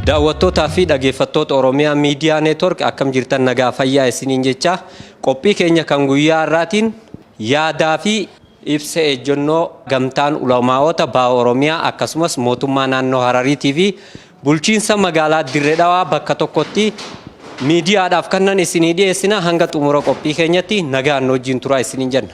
Daawwattootaa fi dhageeffattoota Oromiyaa Miidiyaa Neetwork akkam jirtan nagaa fayyaa isiniin jechaa Qophii keenya kan guyyaa har'aatiin yaadaa fi ibsa ejjennoo Gamtaan Ulamaa'oota Baha Oromiyaa akkasumas Mootummaa Naannoo Harariitii fi Bulchiinsa Magaalaa Dirre Dhawaa bakka tokkotti miidiyaadhaaf kannan isinii dhiyeessina hanga xumura qophii keenyatti nagaan nu wajjin turaa isiniin jenna.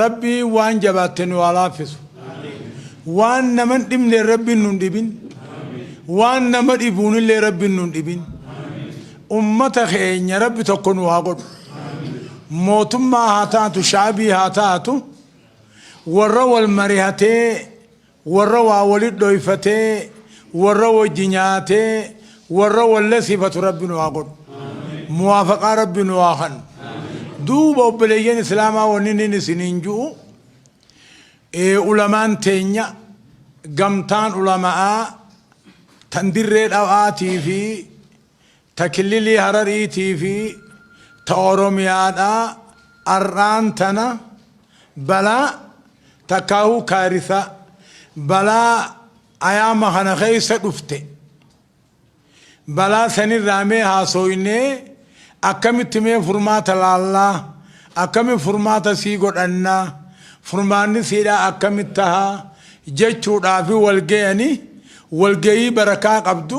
Rabbiin waan jabaatte nu haa laaffisu. Waan nama hin dhibneen Rabbiin nu hin dhibin. Waan nama dhibuunillee Rabbiin nu hin dhibin. Ummata keenya Rabbi tokko nu haa godhu. Mootummaa haa taatu, shaabii haa taatu, warra wal marihatee Warra waa woli dhoyfate warra wojji nyaate warra wol lesifatu rabbi nu haa godhu muwafaqaa rabbi nu haa kannu duuba obboleyyan islamaa wonni nin isinin ju'u ulamaan tenya gamtaan ulama'aa tan dirree dhawa'aatiifi ta Kililii Harariitii fi ta Oromiyaadhaa ar'aan tana balaa takkaahuu kaarithaa balaa ayaama kana keessa dhufte balaa sanirraa mee haasooynee akkamitti mee furmaata laallaa akkami furmaata sii godhannaa furmaanni siidhaa akkamitti tahaa jechuudhaafi wal gayanii wal gayii barakaa qabdu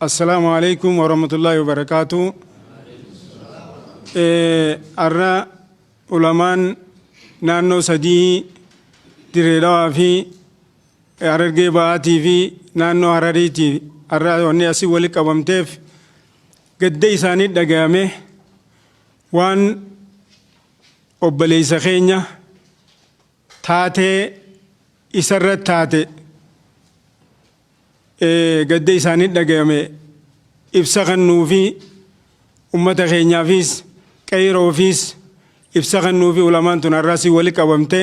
Assalaamu alaikum warahmatullahi wabarakatuh. Har'a ulamaan naannoo sadii Dirree Dhawaa fi Harargee Bahaatii fi naannoo Harariitii har'a wanni asii wali qabamteef gadda isaanii dhagayame waan obboleessa keenya taatee isa irratti taate gadda isaanii dhagayame ibsa kannuu fi ummata keenyaafis qeeyroofiis ibsa kannuu fi ulamaan tun har'aa si wali qabamte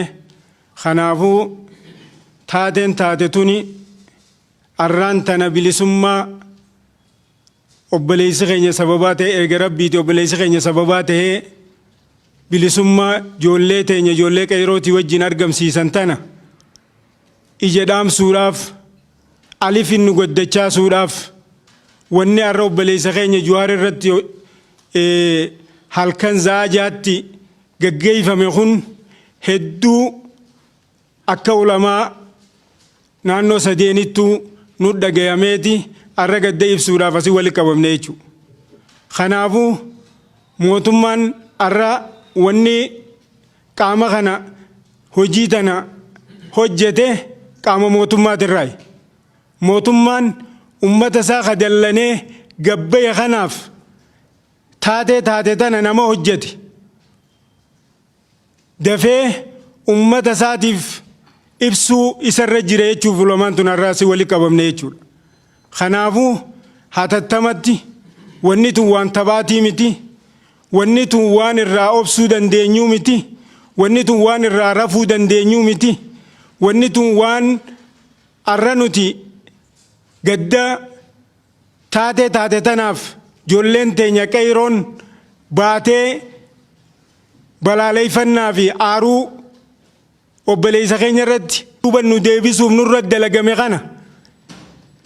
kanaafuu taateen taate tuni arraan tana bilisummaa Obboleessi keenya sababaa ta'e erga Rabbiiti obboleessi keenya sababaa ta'ee bilisummaa ijoollee teenya ijoollee qeerootii wajjin argamsiisan tana ija dhaamsuudhaaf alifin nu gaddachaasuudhaaf wanni har'a obboleessa keenya Juwaar irratti halkan za'aa jaatti gaggeeffame kun hedduu Akka ulamaa naannoo sadeenittuu nut dhagayameeti arra gadda ibsuudhaaf asi wali qabamne jechuu. Kanaafu mootummaan arra wanni qaama kana hojii tana hojjete qaama mootummaatirraayi. Mootummaan ummata isaa ka dallanee gad bahe kanaaf taatee taate tana nama hojjete. dafee ummata isaatiif ibsuu isarra jira jechuuf ulamaan tun har'aa si wali qabamne jechuudha. Kanaafuu hatattamatti wanni tun waan taphaatii miti, wanni tun waan irraa obsuu dandeenyuu miti, wanni tun waan irraa rafuu dandeenyuu miti, wanni tun waan arra nuti gadda Taatee taate tanaaf jolleen teenya qeeyroon baatee balaaleeyfannaa fi aaruu obboleeysa keenya irratti duuba nu deebisuuf nurra dalagame kana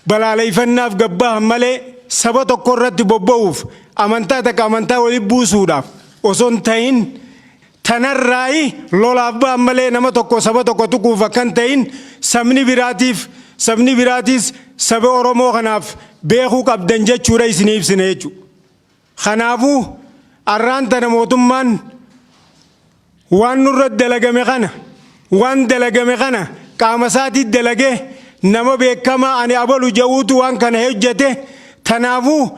balaaleeyfannaaf gabbahan malee saba tokko irratti bobba'uuf amantaa takka amantaa wali buusuudhaaf osoo hin tahin Tanarraayi lolaaf ba'an malee nama tokko saba tokko tuquuf akka hin ta'in sabni biraatiif sabni biraatiis saba Oromoo kanaaf beekuu qabdan jechuudha isinii ibsina jechuudha. Kanaafuu arraan tana mootummaan waan nurra dalagame kana waan dalagame kana qaama isaatii dalagee nama beekamaa ani abalu ja'uutu waan kana hojjete tanaafuu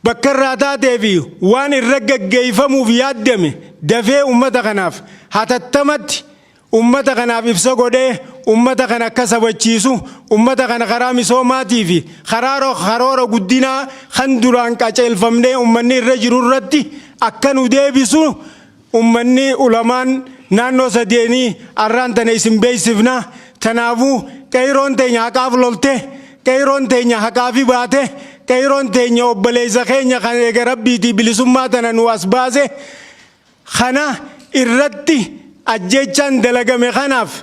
Bakka irraa taatee fi waan irra gaggeeffamuuf yaaddame dafee ummata kanaaf hatattamatti ummata kanaaf ibsa godhee ummata kana akka sabachiisu ummata kana karaa misoomaatii fi karaa karoora guddinaa kan duraan qaceelfamnee ummanni irra jiru irratti akka nu deebisu Ummanni, ulamaan, naannoo sadeenii arraan tana isin beeksifna. Kanaafuu qeeyroon teenya haqaaf lolte, qeeyroon teenya haqaafi baate, qeeyroon teenya obboleessa keenya kan eega Rabbiitii bilisummaa tana nuu as baase kana irratti ajjeechaan dalagame kanaaf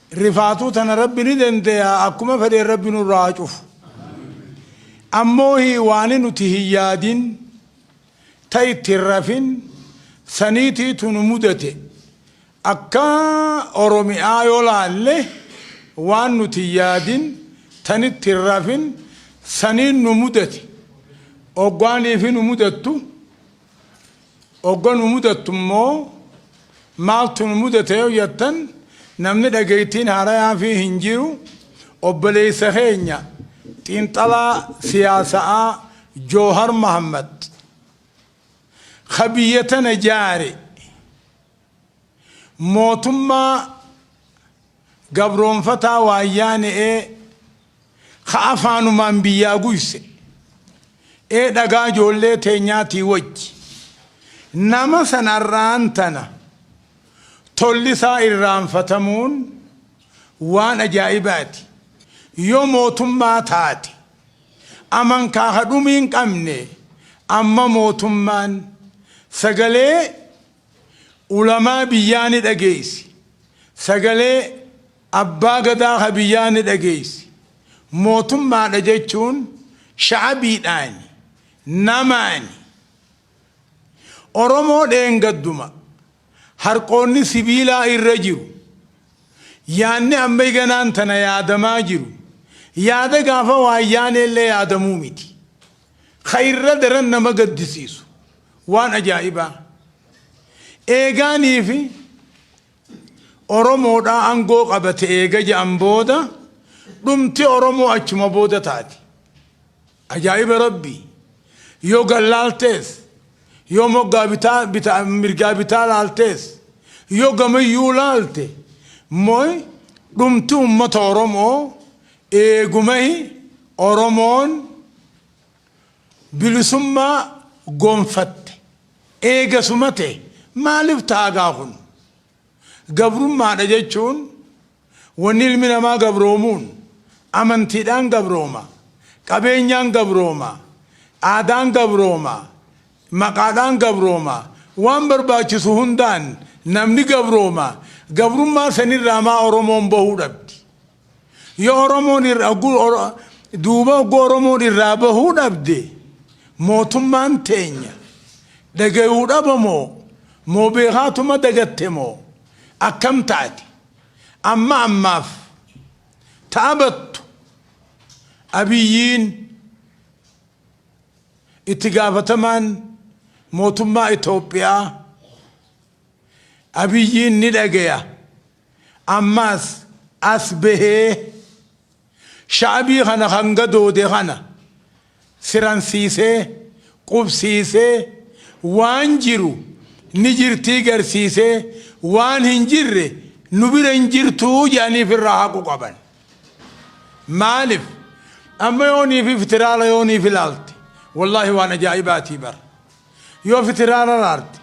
Rifaatuu tana Rabbi ni dandeya akkuma fedheen Rabbi nurraa haa cufu. Ammoohi waani nuti hin yaadin ta itti hin rafin saniitiitu nu mudate. Akka Oromi'aa yoo laalle waan nuti hin yaadin tan itti hin rafin saniin nu mudate. Oggaa niifi nu mudattu Ogga nu mudattu immoo maaltu nu mudate yoo jettan namni dhageettiin haarayaafii hin jiru obboleessa keenya xiinxalaa siyaasa'aa Joohar Mahaammad ka biyya tana jaare. Mootummaa gabroomfataa waayyaane'ee ka afaanumaan biyyaa guyse, ee dhagaa ijoollee teenyaatii wajji, nama san arraan tana tolli isaa irraanfatamuun waan ajaa'ibaati, yoo mootummaa taate, amankaa ka dhumii hin qabne, amma mootummaan sagalee ulamaa biyyaa ni dhageeysi, sagalee abbaa gadaa ka biyyaa ni dhageeysi, mootummaadha jechuun sha'abiidhaani, namaani. Oromoo dheengadduma harqoonni sibiilaa irra jiru, yaanni amma iganaan tana yaadamaa jiru, yaada gaafa waayyaaneellee yaadamuu miti. Ka irra daran nama gaddisiisu, waan ajaa'ibaa, eegaanii fi Oromoodhaa aangoo qabate eega ja'an booda, dhumti Oromoo achuma booda taati. Ajaa'iba Rabbii! Yoo gar laaltees, yoo moggaa bitaa, bitaa, mirgaa bitaa laaltees, yoo gamayyuu laalte, moy dhumti ummata Oromoo Eegumahi Oromoon bilisummaa gonfatte eegasuma ta'e maalif ta'a gaa kun? Gabrummaadha jechuun wanni ilmi namaa gabroomuun amantiidhaan gabrooma, qabeenyaan gabrooma, aadaan gabrooma, maqaadhaan gabrooma, waan barbaachisu hundaan namni gabrooma, gabrummaa sanirraa maa Oromoon bahuu dhabdi? Yoo Oromoon irraa ogguu Oro- duuba ogguu Oromoon irraa bahuu dhabde mootummaan teenya dhagayuu dhaba moo moo beekaatuma dagatte moo akkam taate amma ammaaf taabattu abiyyiin itti gaafatamaan mootummaa Itoophiyaa abiyyiin ni dhagaya. Ammaas as bahee sha'abii kana kan gadoode kana siransiisee, qubsiisee, waan jiru ni jirtii garsiisee waan hin jirre nu bira hin jirtuu jedhanii ifirraa haquu qaban. Maalif amma yooniif iftiraala yooniif ilaalte wallaahi waan ajaa'ibaatii bar. Yoo fitiraal araarti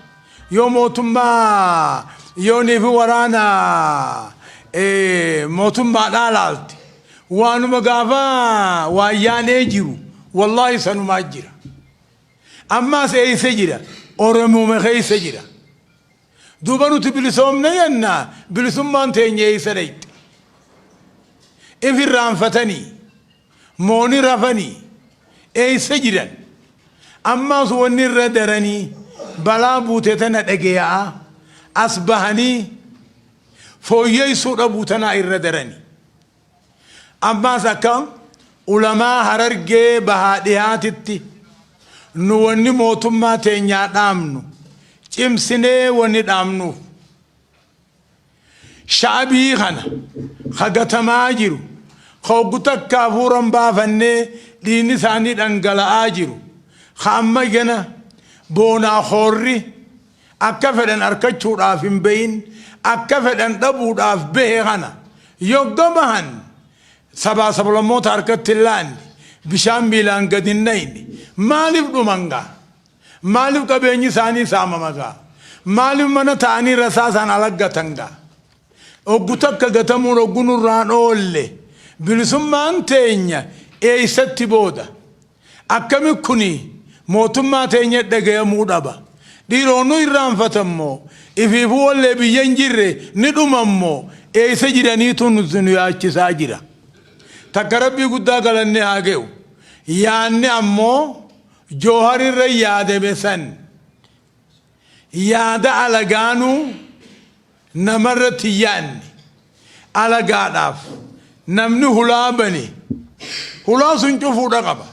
yoo mootummaa yoonii fi waraana mootummaadhaa laalti waanuma gaafa waayyaanee jiru wallaahi sanumaa jira ammaas eeysa jira oromuuma keeysa jira duuba nuti bilisoomne jenna bilisummaan teenya eeysa dhayxi if irraanfatanii Moo ni rafanii? Eessa jiran? Ammaas wanni irra daranii balaa buute tana dhageya'aa as bahanii fooyyeessuu dhabuu tanaa irra darani. Ammaas akka ulamaa harargee bahaa dhihaatitti nu wanni mootummaa teenyaa dhaamnu cimsinee wanni dhaamnuuf Sha'abii kana ka gatamaa jiru, ka hoggu takka hafuura hin baafanne dhiigni isaanii dhangala'aa jiru, ka amma gana boonaa koorri akka fedhan arkachuudhaaf hin bahin, akka fedhan dhabuudhaaf bahe kana yogga bahan sabaa sablammoota harkatti hin laanne, bishaan miilaan gad hin nayne maaliif dhuman gaa? Maalif qabeenyi isaanii saamama gaa? Maalif mana taa'anii rasaasaan alaggatan gaa? Oggu takka gatamuun oggu nurraan oolle bilisummaan teenya eessatti booda? Akkami kuni mootummaa teenyatti dhagayamuu dhaba? Dhiiroo nu irraanfatan moo? Ifiifuu wallee biyya hin jirre ni dhuman moo? Eessa jiraniitu nuti nu yaachisaa jira. Takka Rabbii guddaa galanni haa gayu. Yaanni ammoo. Jowhar irra yaadame san yaada alagaanuu namarratti hin yaanne. Alagaadhaaf namni hulaa bane hulaa sun cufuudha qaba.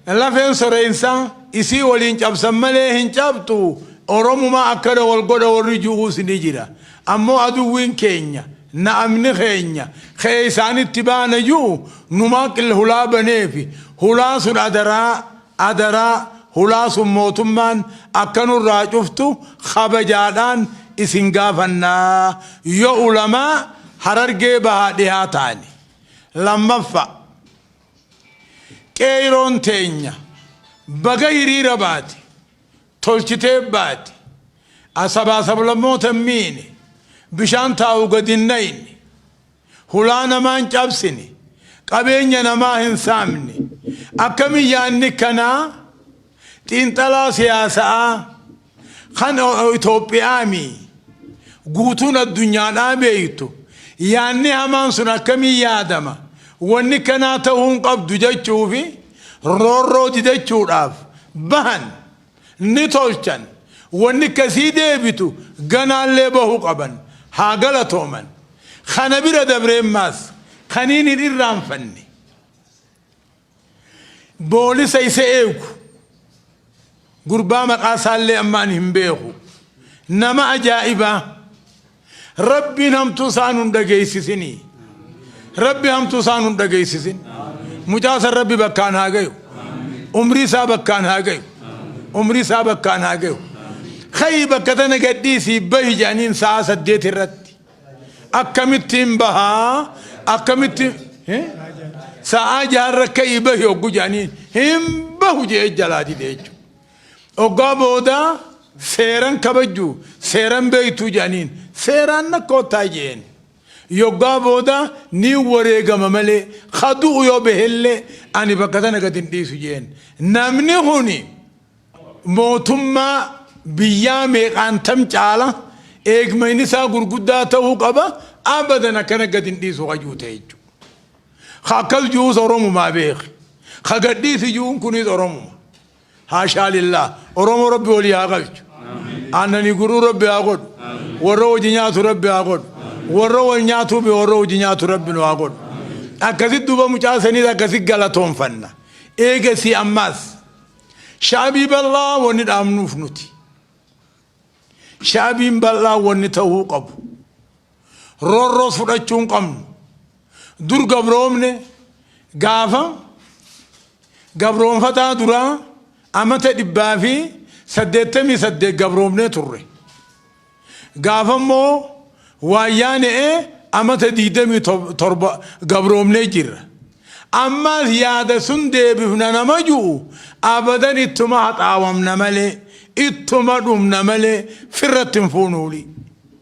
Lafeen soreensaa isii waliin cabsan malee hin cabxu Oromumaa akkana wal godha warri ju'uus ni jira. Ammoo aduwwiin keenya, na'amni keenya, ka'ee isaan itti baana ji'u, numaa ql hulaa baneefi, hulaan sun adaraa, adaraa, hulaa sun mootummaan akka nurraa cuftu kabajaadhaan isin gaafanna, yoo ulamaa Harargee bahaa dhihaa taane. Lammaffaa, Qeeyroon teenya baga hiriira baate. tolchitee baati. a Sabaa sablammoota hin miine, bishaan taa'u gad hin nayne, hulaa namaa hin cabsine, qabeenya namaa hin saamne. Akkami yaadni kanaa xiinxalaa siyaasa'aa kan Itoophiyaami guutuun addunyaadhaa beektu yaadni hamaan sun akkamiin yaadama? Wanni kanaa ta'uu hin qabdu jechuufi. roorroo didachuudhaaf bahan ni tolchan wanni akkasii deebitu ganaallee bahuu qaban haa galatooman kana bira dabreemmaas kaniin hin irraanfanne boolisa isa eegu gurbaa maqaa isaallee amma ani hin beeku nama ajaa'ibaa Rabbiin hamtuu isaa nun dhageessisini. Rabbi hamtuu isaa nun dhageessisin. Mucaa san Rabbi bakkaan haa gayu. Umrii isaa bakkaan haa gayu. Umrii isaa bakkaan haa gayu. Ka'i bakka tana gadhiisii bahi jedhaniin sa'a saddeet irratti. Akkamittiin bahaa? Akkamittiin? Eh? Sa'a jaarra ka'i bahi oggu jedhaniin hin bahu jedhee jalaa dide jechuudha. Oggaa booda seeran kabajju seeran beektuu jedhaniin seeraan na koottaa jeen. Yoggaa booda ni wareegama malee ka du'u yoo behellee ani bakka tana gad hin dhiisu jeen. Namni kuni mootummaa biyyaa meeqaan tam caala eegmayni isaa gurguddaa ta'uu qaba abadan akkana gad hin dhiisu ka juu ta'e jechuudha. Ka akkas juus Oromumaa beeki. Ka gad dhiisi juun kunis Oromuma. Haashaa lillaah. Oromoo Rabbi walii haa galchu. Aannanii guruu Rabbi haa godhu. Warra hojii nyaatu Rabbi haa godhu. Warra wal nyaatuu fi warra hojii nyaatu Rabbi nu haa godhu. Akkasitti duuba mucaa saniis akkasitti galatoonfanna. Eegasii ammaas shaabii bal'aa wanni dhaabnuuf nuti. Shaabiin bal'aa wanni ta'uu qabu. roorroo fudhachuu hin qabnu. Dur gabroomne gaafa gabroonfataa duraa amata dhibbaa fi saddeettamii saddeet gabroomnee turre. Gaafa immoo waayyaanee amata digdamii torba gabroomnee jirra. Ammaas yaada sun deebifna nama ju'u abadan ittuma haxaawamna malee ittuma dhumna malee firratti hin fuunuuli.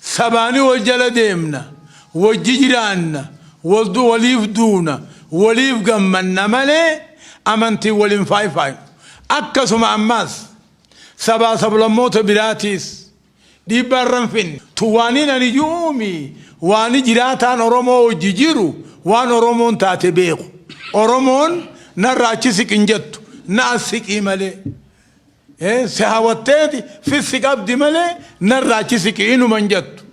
Sabaani wol jala deemna, wojji jiraanna, woliif duuna, woliif gammanna malee amantiin wol hin faayfaaynu. Akkasuma ammaas sabaa sablammoota biraatiis dhiibbaa irra hin finne. Tun waaniin ani ju'uu mi? Waani jiraataan Oromoo wojji jiru waan Oromoon taate beeku. Oromoon narraa achi siqin jettu, na as siqii malee. Si hawatteeti fissi qabdi malee narraa achi siqi inuma hin jettu.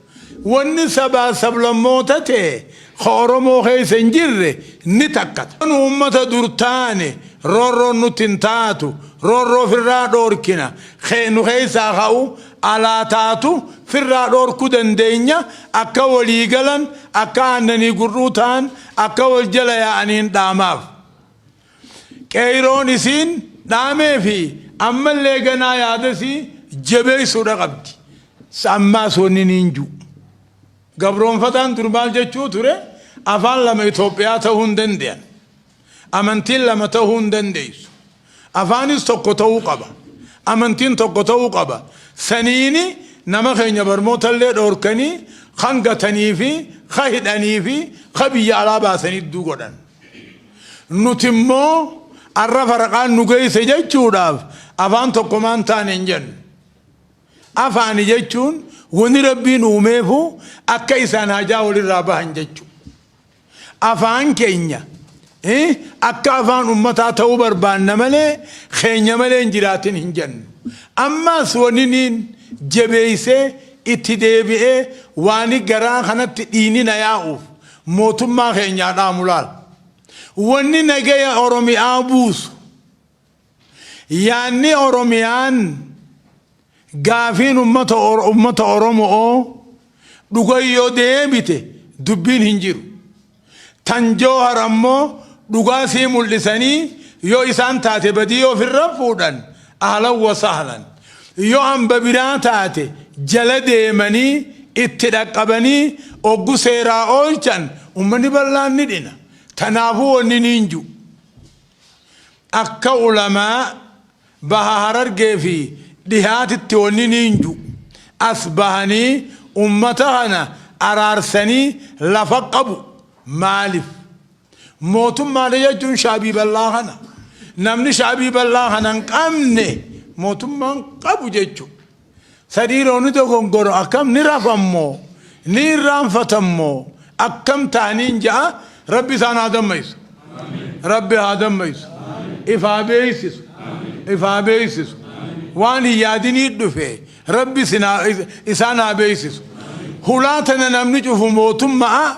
Wanni sabaa sablammoota tee ka Oromoo keessa hin jirre ni takkata. Nu ummata dur taane roorroon nutti hin taatu, roorroo firraa dhoorkina, kee nu keessaa ka'u alaa taatu firraa dhoorkuu dandeenya, akka walii galan, akka aannanii gur'uu ta'an, akka wal jala yaa'aniin dhaamaaf. Qeeyroon isiin dhaamee fi ammallee ganaa yaada isii jebeeysuudha qabdi. Ammaas wanni niin ju. Gabroonfataan dur maal jechuu ture afaan lama Itoophiyaa tahuu hin dandeyan. Amantiin lama tahuu hin dandeeysu. Afaanis tokko tahuu qaba. Amantiin tokko tahuu qaba. Saniini nama keenya barmoota illee dhoorkanii kan gatanii fi ka hidhanii fi ka biyya alaa baasanii idduu godhan. Nuti immoo arra faraqaan nu geesse jechuudhaaf afaan tokkomaan taane hin jennu. Afaani jechuun wani rabbiin uumeefu akka isaan hajaa walirraa bahan jechu. Afaan keenya akka afaan ummataa ta'uu barbaanna malee keenya malee hin jiraatin hin jennu. Ammaas waniniin jabeessee itti deebi'ee waani garaa kanatti dhiinina yaa'uuf mootummaa keenyaa dhaamu laal. Wanni nagaya Oromiyaa buusu yaanni Oromiyaan gaafiin ummata Oro- ummata Oromoo dhuga yoo deebite dubbiin hin jiru. Tan Joohar ammoo dhugaa sii mul'isanii yoo isaan taate badii yoo ofirra fuudhan ahlan wa sahlan. Yoo hamba biraa taate jala deemanii itti dhaqqabanii oggu seeraa oolchan ummanni bal'aan ni dhina. Tanaafuu wanni niin ju. Akka ulamaa baha harargee fi dhihaatitti wanni niin ju. As bahanii ummata kana araarsanii lafa qabu. Maalif? Mootummaa jechuun shaabii bal'aa kana. Namni shaabii bal'aa kana hin qabne mootummaan qabu jechuudha. Sadii rooni dogongoro akkam ni rafammoo ni irraanfatammoo akkam taaniin ja'a rabbi isaan haa damma'isu. Rabbi haa damma'isu. If haa beeksisu. If haa beeksisu. Waan hin yaadinii dhufe rabbi isaan haa beeksisu. Hulaa tana namni cufu mootummaa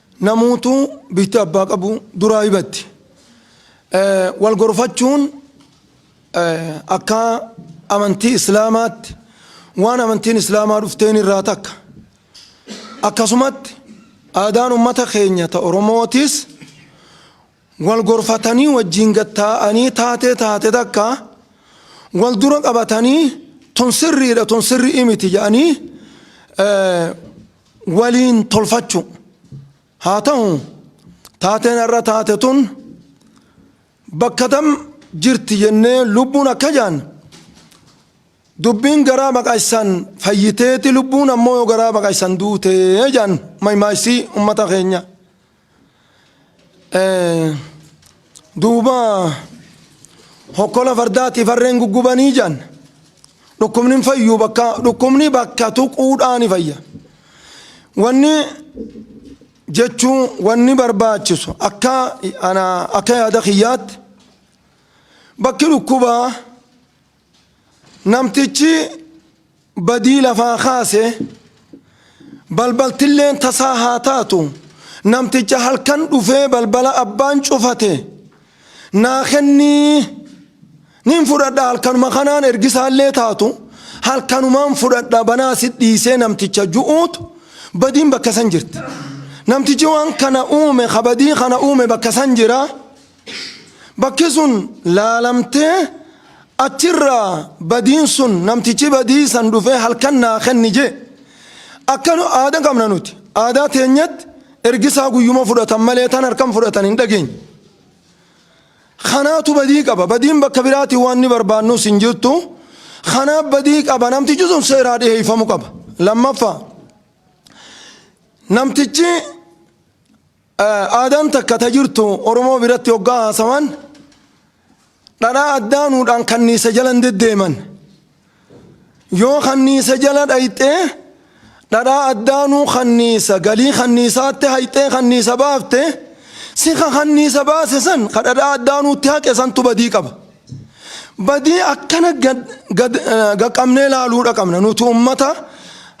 Namuutu bifti abbaa qabu duraa hibatti. Wal gorfachuun akka amantii Islaamaatti waan amantiin Islaamaa dhufteen irraa takka. Akkasumatti aadaan ummata keenya ta Oromootis wal gorfatanii wajjiin gad taa'anii taatee taate takka wal dura qabatanii tun sirriidha tun sirri'i miti jedhanii waliin tolfachuu. Haa ta'u taateen har'a taate tun bakka tam jirti jennee lubbuun akka jaan dubbiin garaa baqaysaan fayyiteeti lubbuun ammoo yoo garaa baqaysan duutee jaan maymaaysi ummata keenya. duuba hokkola fardaatiif harreen guggubanii jedhan dhukkubni hin fayyu bakka dhukkubni bakka tuquudhaa ni fayya wanni jechuun wanni barbaachisu akka ana akka yaada kiyyaatti bakki dhukkubaa Namtichi badii lafaa kaase balbaltilleen tasaa haa taatu namticha halkan dhufee balbala abbaan cufate naa kennii nin fudhadha halkanuma kanaan ergisaallee taatu halkanumaan fudhadha banaa si dhiisee namticha ju'uutu badiin bakka san jirti. Namtichi waan kana uume kabadii kana uume bakka san jira. Bakki sun laalamtee achirraa badiin sun namtichi badii san dhufee halkan naa kenni jee akka aada qabna nuti aadaa teenyatti ergisaa guyyuma fudhatan malee tan harkan fudhatan hin dhageenye. Kanaatu badii qaba badiin bakka biraatiin waan ni barbaannus hin jirtu kanaaf badii qaba namtichi sun seeraa dhiheeffamu qaba lammaffaa namtichi. Aadaan takka ta jirtu Oromoo biratti hoggaa haasawan dhadhaa addaanuudhaan kanniisa jala hin deddeeman. Yoo kanniisa jala dhayxee dhadhaa addaanuu kanniisa galii kanniisaatti hayxee kanniisa baafte si ka kanniisa baase san ka dhadhaa addaanuutti haqe santu badii qaba. Badii akkana gad gad gaqqabnee laaluudha qabna nuti ummata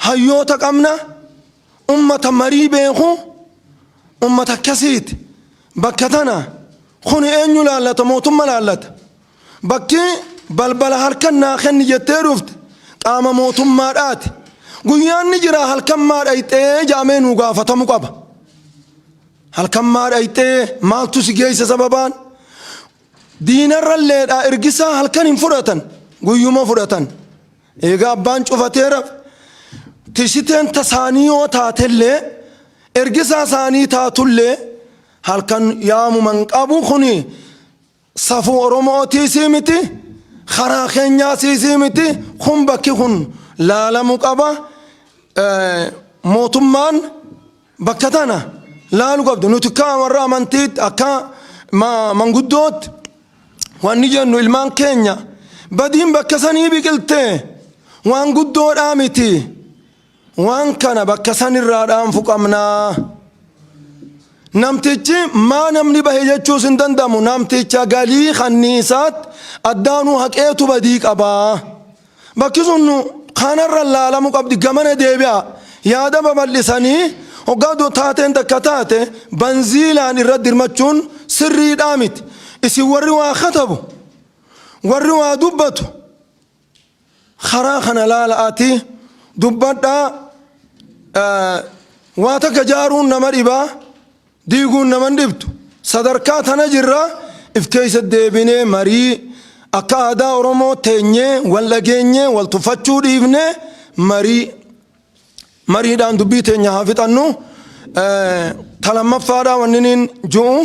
hayyoota qabna. Ummata marii beeku ummata akkasiiti. Bakka tana kun eenyu laallata mootumma laallata. Bakki balbala halkan naa kenni jettee dhufte qaama mootummaadhaati. Guyyaan ni jira halkan maa dhayxee jaamee nuu gaafatamu qaba. Halkan maa dhayxee maaltu si geessa sababaan? Diinarralleedhaa ergisaa halkan hin fudhatan guyyuma fudhatan. Eega abbaan cufateera tishiteen ta saanii yoo taatellee ergisaa saanii taatullee halkan yaamuma hin qabu kun safuu oromootiisii miti karaa keenyaasiisii miti kun bakki kun laalamu qaba mootummaan Bakka tana laalu qabda. Nuti akka warra amantiitti akka manguddootti wanni jennu ilmaan keenya badiin bakka sanii biqilte waan guddoodhaa miti. Waan kana bakka sanirraa dhaanfu qabna. Namtichi maa namni bahe jechuus hin danda'amu. Namticha galii kanniisaatti addaanuu haqeetu badii qabaa. Bakki sun kanarra laalamu qabdi gamana deebi'aa yaada babal'isanii hoggaa du taateen takka taate banziilaan irra dirmachuun sirriidhaa miti. Isin warri waa katabu warri waa dubbatu karaa kana laala'ati dubbadhaa waa takka jaaruun nama dhibaa. Diiguun nama hin dhibdu. Sadarkaa tana jirra if keessa deebinee marii akka aadaa Oromoo teenyee wal dhageenyee wal tuffachuu dhiifnee marii mariidhaan dubbii teenya haa fixannu. Ta lammaffaadhaa wanniniin ju'u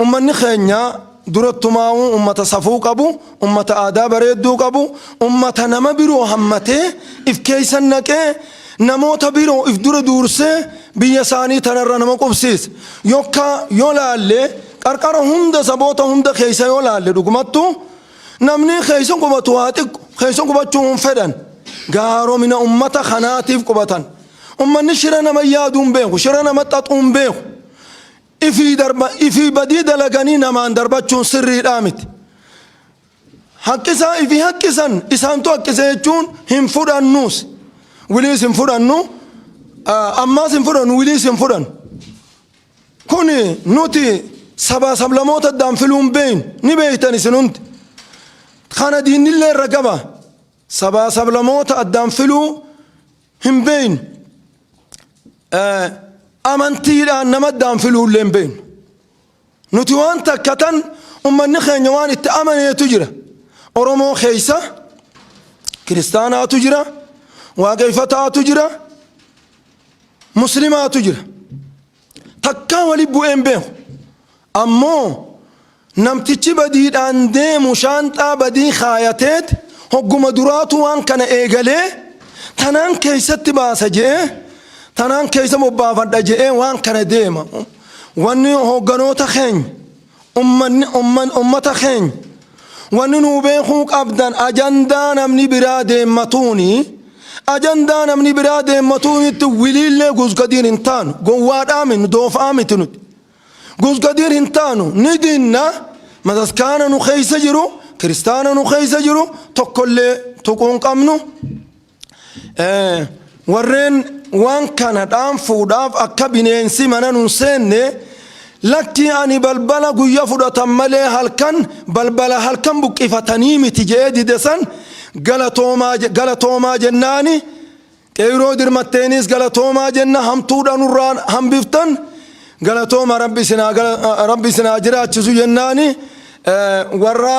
Ummanni keenya durattumaa'uu ummata safuu qabu, ummata aadaa bareedduu qabu, ummata nama biroo hammatee if keessa naqee namoota biroo if dura duursee biyya isaanii tanarra nama qubsiise. Yokka yoo laalle qarqara hunda saboota hunda keessa yoo laalle dhugumattu namni keessa qubatu haa xiqqu keessa qubachuu hin fedhan. Gaaromina ummata kanaatiif qubatan. Ummanni shira nama yaaduu hin beeku, shira nama xaxuu hin beeku. Ifii darba ifii badii dalaganii namaan darbachuun sirriidhaa miti. Haqqisaa ifii haqqisan isaantu haqqise jechuun hin fudhannuus. Wiliis hin fudhannu ammaas hin fudhannu wiliis hin fudhannu. Kuni nuti sabaa sablamoota addaan filuun beeynu ni beeytan isin hundi. Kana diinnillee irra gaba. Sabaa sablamoota addaan filuu hin beeynu amantiidhaan nama addaan filuullee hin beeynu nuti waan takka tan ummanni keenya waan itti amaneetu jira oromoo keeysa kiristaanaatu jira waaqeeffataatu jira muslimaatu jira Takkaa wali bu'ee hin beeku. Ammoo namtichi badiidhaan deemu shaanxaa badii kaayateet hogguma duraatu waan kana eegalee tanaan keeysatti baasa je'ee tanaan keeysa bobbaafadha je'ee waan kana deema. Wanni hogganoota keenya Ummanni umman ummata keenya wanni nuu beekuu qabdan ajandaa namni biraa deemmatuuni ajandaa namni biraa deemmatuunitti wiliillee gusgadiin hin taanu gowwaadhaa min doofaa miti nuti gusgadiin hin taanu ni dinna mataskaana nu keessa jiru kiristaana nu keessa jiru tokkollee tuquu hin qabnu Warreen waan kana dhaanfuudhaaf akka bineensi mana nun seenne lakki ani balbala guyya fudhatan malee halkan balbala halkan buqqifatanii miti je'ee dide san galatoomaa je- galatoomaa jennaani qeyroo dirmatteeniis galatoomaa jenna hamtuudha nurraa hambiftan galatooma rabbi isin haa gala- rabbi isin haa jiraachisu jennaani eh, warra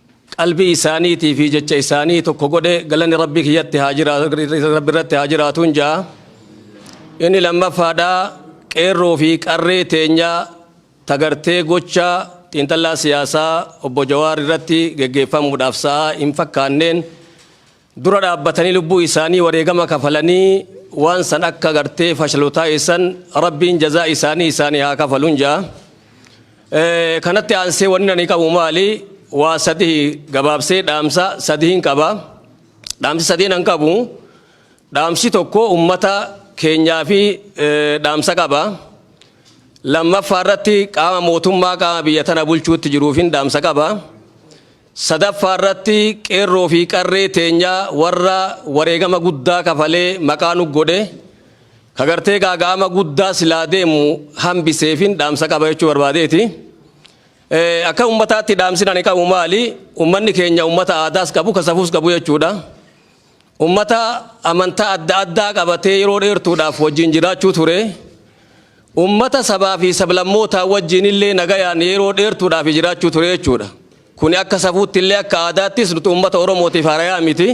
qalbii isaaniitii fi jecha isaanii tokko godhe galanni rabbii kiyyatti haa jiraatu rabbi irratti haa jiraatuun ja'a inni lammaffaadhaa qeerroo fi qarree teenyaa tagartee gocha xiinxallaa siyaasaa obbo Jawaar irratti geggeeffamuudhaaf sa'aa hin fakkaanneen dura dhaabbatanii lubbuu isaanii wareegama kafalanii waan san akka gartee fashalu taasisan rabbiin jazaa isaanii isaanii haa kafalun jaa kanatti aansee wanni ani qabu maali waa sadii gabaabsee dhaamsa sadiin qaba dhaamsi sadiin an qabu dhaamsi tokko ummata keenyaa fi dhaamsa qaba lammaffaa irratti qaama mootummaa qaama biyya tana bulchuutti jiruufin dhaamsa qaba 3ffaa irratti qeerroo fi qarree teenya warra wareegama guddaa kafalee maqaa nu godhe ka gartee gaaga'ama guddaa silaa deemu hambiseefin dhaamsa qaba jechuu barbaadeeti. Akka ummataatti dhaamsin ani qabu maali? Ummanni keenya ummata aadaas qabu ka safuus qabu jechuudha. Ummata amantaa adda addaa qabatee yeroo dheertuudhaaf wajjin jiraachuu ture. Ummata sabaa fi sablammootaa wajjin illee nagayaan yeroo dheertuudhaaf jiraachuu ture jechuudha. Kuni akka safuutti illee akka aadaattis nuti ummata Oromootiif harayaa miti.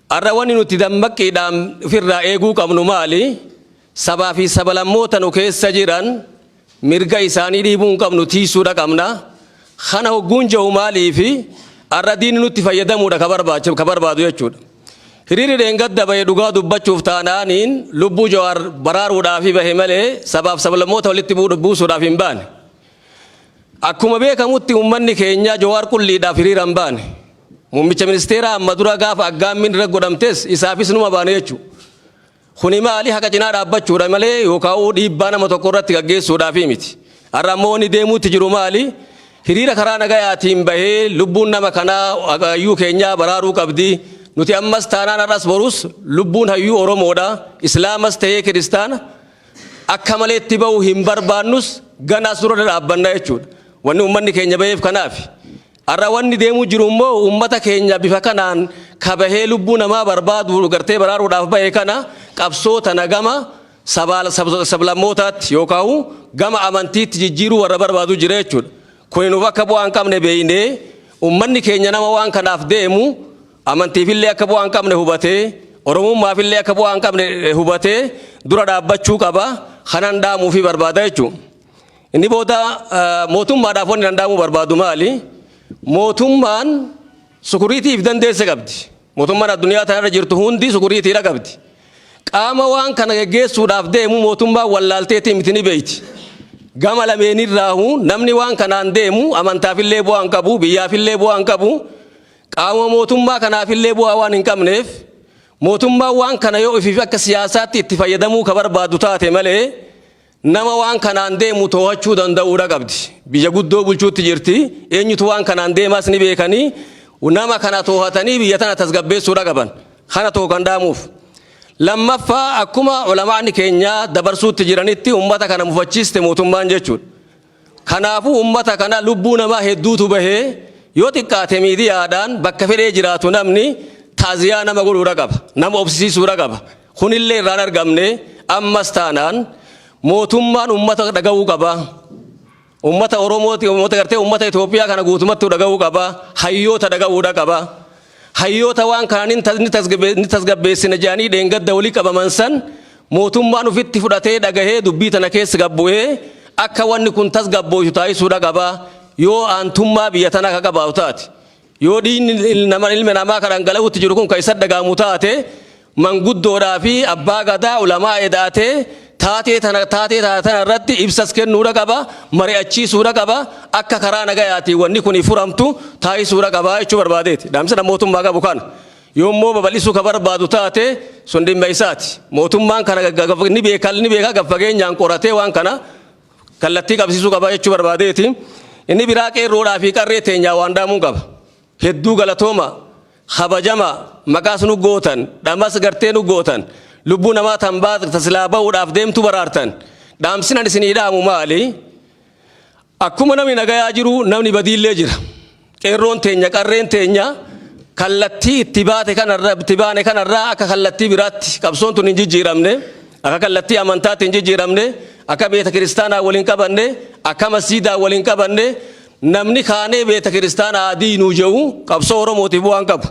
Har'a wanni nuti dammaqqiidhaan ofirraa eeguu qabnu maali? Sabaa fi sabalammoota nu keessa jiran Mirga isaanii dhiibuu hin qabnu tiiysuudha qabna. Kana hogguun jahu maaliif har'a diinni nutti fayyadamuudha ka barbaacha ka barbaadu jechuudha. Hiriirri dheengadda bahe dhugaa dubbachuuf taanaaniin lubbuu Jawaar baraaruudhaafi bahe malee sabaaf sablammoota walitti buusuudhaaf hin baane. Akkuma beekamutti uummanni keenya Jawaar qulliidhaaf hiriira hin baane. Muummicha ministeeraa amma dura gaafa aggaammiin irra godhamtes isaafis numa baane jechuudha. Kuni maali haqa cinaa dhaabbachuudha malee yookaa'uu dhiibbaa nama tokko irratti gaggeessuudhaafii miti. Har'a ammoo wanni deemuutti jiru maali? Hiriira karaa nagayaatiin bahee lubbuun nama kanaa hayyuu keenyaa baraaruu qabdi. Nuti ammas taanaan har'as borus lubbuun hayyuu Oromoodha. Islaamas ta'ee Kiristaana akka malee itti bahu hin barbaannus ganaas dura dhadhaabbanna jechuudha. Wanni ummanni keenya baheef kanaafi. Har'a wanni deemuu jiru immoo uummata keenya bifa kanaan ka bahee lubbuu namaa barbaadu gartee baraaruudhaaf bahe kana qabsoo tana gama sabaal sablammootaatti yookaahuu gama amantiitti jijjiiruu warra barbaadu jira jechuudha. Kuni nuuf akka bu'aa hin qabne beeynee uummanni keenya nama waan kanaaf deemu amantiifillee akka bu'aa hin qabne hubatee Oromummaafillee akka bu'aa hin qabne hubatee dura dhaabbachuu qaba kanan dhaamuufii barbaada jechuudha. Inni booda mootummaadhaaf wanni danda'amuu barbaadu maali? Mootummaan sukuriitii if dandeesse qabdi. Mootummaan addunyaa tanarra jirtu hundi sukuriitiidha qabdi. Qaama waan kana geggeessuudhaaf deemu mootummaan wallaalteetii miti ni beeyti. Gama lameenirraahu namni waan kanaan deemu amantaafillee bu'aa hin qabu, biyyaafillee bu'aa hin qabu, qaama mootummaa kanaafillee bu'aa waan hin qabneef mootummaan waan kana yoo ofiif akka siyaasaatti itti fayyadamuu ka barbaadu taate malee Nama waan kanaan deemu toohachuu danda'uudha qabdi. Biyya guddoo bulchuutti jirti. Eenyutu waan kanaan deemaas ni beekanii nama kana toohatanii biyya tana tasgabbeessuudha qaban. Kana tokko kan dhaamuuf. Lammaffaa akkuma ulamaa'ni keenyaa dabarsuutti jiranitti uummata kana mufachiiste mootummaan jechuudha. Kanaafuu ummata kana lubbuu namaa hedduutu bahe, yoo xiqqaate miidiyaadhaan bakka fedhee jiraatu namni ta'ziyaa nama godhuudha qaba, nama obsisiisuudha qaba. Kunillee irraa hin argamne. Ammas taanaan mootummaan ummata dhagahuu qaba. Ummata Oromooti, ummata gartee ummata Itoophiyaa kana guutumattuu dhagahuu qaba. Hayyoota dhagahuudha qaba. Hayyoota waan kana ni tasgabbeessina jedhanii dheengadda wali qabaman san mootummaan ufitti fudhatee dhagahee dubbii tana keessa gad bu'ee akka wanni kun tasgabbooytu taasisuudha qaba yoo aantummaa biyya tanaa ka qabaatu taate. Yoo dhiigni nama ilma namaa ka dhangala'uutti jiru kun ka isa dhaga'amu taate manguddoodhaa fi abbaa gadaa, ulamaa eda'atee taatee tana taatee tana tana irratti ibsas kennuudha qaba, mari'achiisuudha qaba, akka karaa nagayaatiin wanni kuni furamtu taasisuudha qaba jechuu barbaadeeti. Dhaamsa dha mootummaa qabu kana. Yoo immoo babal'isuu ka barbaadu taate sun dhimma isaati. Mootummaan kana ga- ga- ga- ni beeka ni beeka gad fageenyaan qoratee waan kana kallattii qabsiisuu qaba jechuu barbaadeeti. Inni biraa qeerroodhaa fi qarree teenyaa waan dhaamuun qaba. Hedduu galatooma. kabajama maqaas nu gootan dhamas gartee nu gootan lubbuu namaa tan baat ta silaa ba'uudhaaf deemtu baraartan dhaamsinan isinii dhaamu maali akkuma namni nagayaa jiru namni badiillee jira qeerroon teenya qarreen teenya kallattii itti baate kanarra itti baane kanarraa akka kallattii biraatti qabsoon tun hin jijjiiramne akka kallattii amantaatti hin jijjiiramne akka beeta kiristaanaa waliin qabanne akka masjiidaa waliin qabanne Namni kaanee beeta kiristaana haa diiynuu je'u qabsoo Oromootiif bu'aan qabu.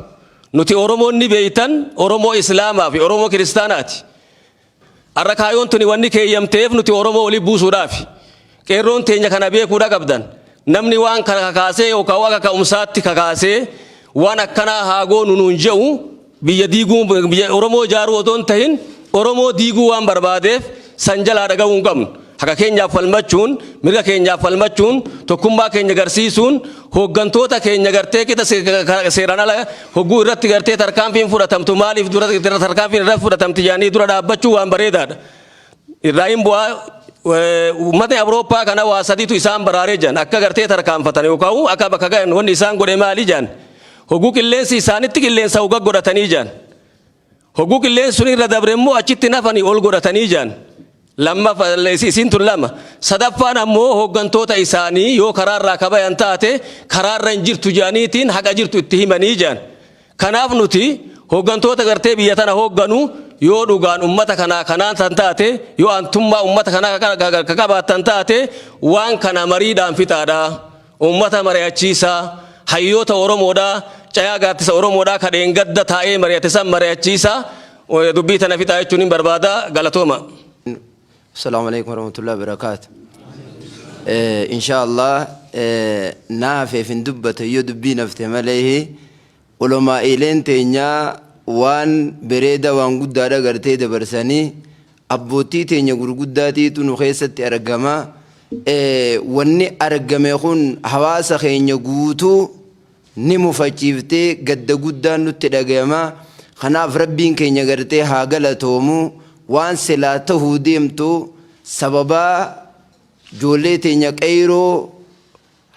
Nuti Oromoon ni beeytan Oromoo Islaamaa fi Oromoo Kiristaanaati. Arra kaayoon tuni wanni keeyyamteef nuti Oromoo wali buusuudhaafi. Qeerroon teenya kana beekuudha qabdan. Namni waan kana kakaasee yookaa akka ka'umsaatti kakaasee waan akkanaa haa goonu nuun je'u Biyya diiguu, biyya Oromoo ijaaruu otoo hin tahin Oromoo diiguu waan barbaadeef san jalaa dhagahuu hin qabnu. Haqa keenyaaf falmachuun, mirga keenyaaf falmachuun, tokkummaa keenya garsiisuun, hooggantoota keenya gartee kita seeraan ala hogguu irratti gartee tarkaanfiin fudhatamtu maaliif dura tarkaanfiin irratti fudhatamti jedhanii dura dhaabbachuu waan bareedaadha. Irraa hin bu'aa uummatni Awurooppaa kana waa sadiitu isaan baraaree jedhan akka gartee tarkaanfatan yookaan akka bakka gahan wanni isaan godhe maali jedhan Hogguu qilleensi isaanitti qilleensa uga godhatanii jaan. Hogguu qilleensi sun irra dabre immoo achitti nafanii ol godhatanii jaan. Lammafa isiin tun lama. Sadaffaan ammoo hooggantoota isaanii yoo karaarraa kabayan taate karaarra hin jirtu jaaniitiin haqa jirtu itti himanii jaan. Kanaaf nuti hooggantoota gartee biyya tana hoogganu yoo dhugaan ummata kanaa kanaan tan taate yoo antummaa ummata kanaa ka qabaatan taate waan kana mariidhaan fixaadha. Uummata mari'achiisaa, hayyoota Oromoodhaa, cayaa gaaddisa Oromoodhaa ka dheengadda taa'ee mari'ate san mari'achiisaa dubbii tana fixaa jechuunin barbaada. Galatoomaa. Assalaamu Aleykum Warahmatullahi Wabarakaatu. Inshaa Allah na hafeef hin dubbata yoo dubbiin hafte malee Ulamaa'iileen teenya waan bereeda waan guddaadha gartee dabarsani. Abboottii teenya gurguddaatiitu nu keessatti argama. Wanni argame kun hawaasa keenya guutuu ni mufachiifte, gadda guddaan nutti dhagayama. Kanaaf Rabbiin keenya gartee haa galatoomu. Waan silaa tahuu deemtu sababaa joollee teenya qeeyroo,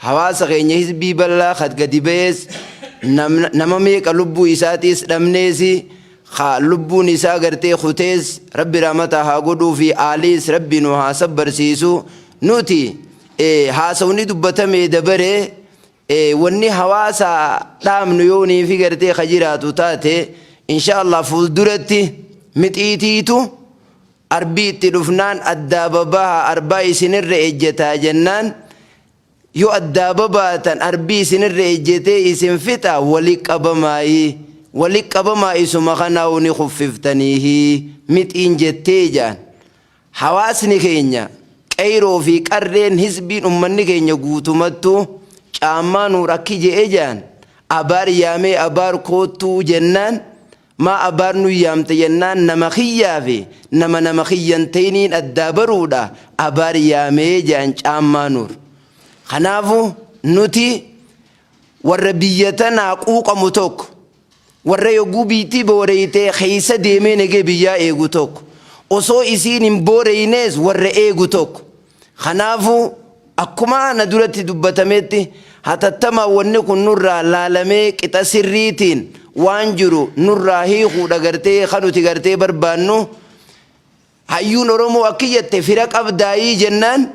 Hawaasa keenya hizbii bal'aa ka gadi bahees, nama meeqa lubbuu isaatiis dhabnees, ka lubbuun isaa gartee kutees Rabbi rahmataa haa godhuufi, aaliis Rabbi nu haa sabbarsiisu. Nuti haasawni dubbatamee dabare, wanni hawaasa dhaamnu yoo niifi gartee ka jiraatu taate, inshaa Allaah fuulduratti mixiitiitu Arbii itti dhufnaan addaa babaha arbaa isin irra ejjetaa jennaan yoo addaa babaatan arbii isin irra ejjetee isin fixa wali qabamaayi wali qabamaa isuma kanaahu ni kuffiftaniihi mixiin jettee jaan hawaasni keenya qeyroo fi qarreen hizbiin ummanni keenya guutumattu caammaa nuur akki je'e jaan abaar yaamee abaar koottuu jennaan Maa abaar nu yaamte jennaan nama kiyyaa fi nama nama kiyya hin ta'iniin addaa baruudha abaar yaamee jedhan Caammaa Nuur. Kanaafu nuti warra biyya tanaa quuqamu tokko, warra yogguu biyytii booreyte keessa deemee nagee biyyaa eegu tokko, osoo isiin hin booreynees warra eegu tokko. Kanaafuu, akkuma ana duratti dubbatametti hatattamaan wanni kun nurraa laalamee qixa sirriitiin waan jiru nurraa hiikuudha gartee kan nuti gartee barbaannu. Hayyuun Oromoo akki jette fira qabdaayii jennaan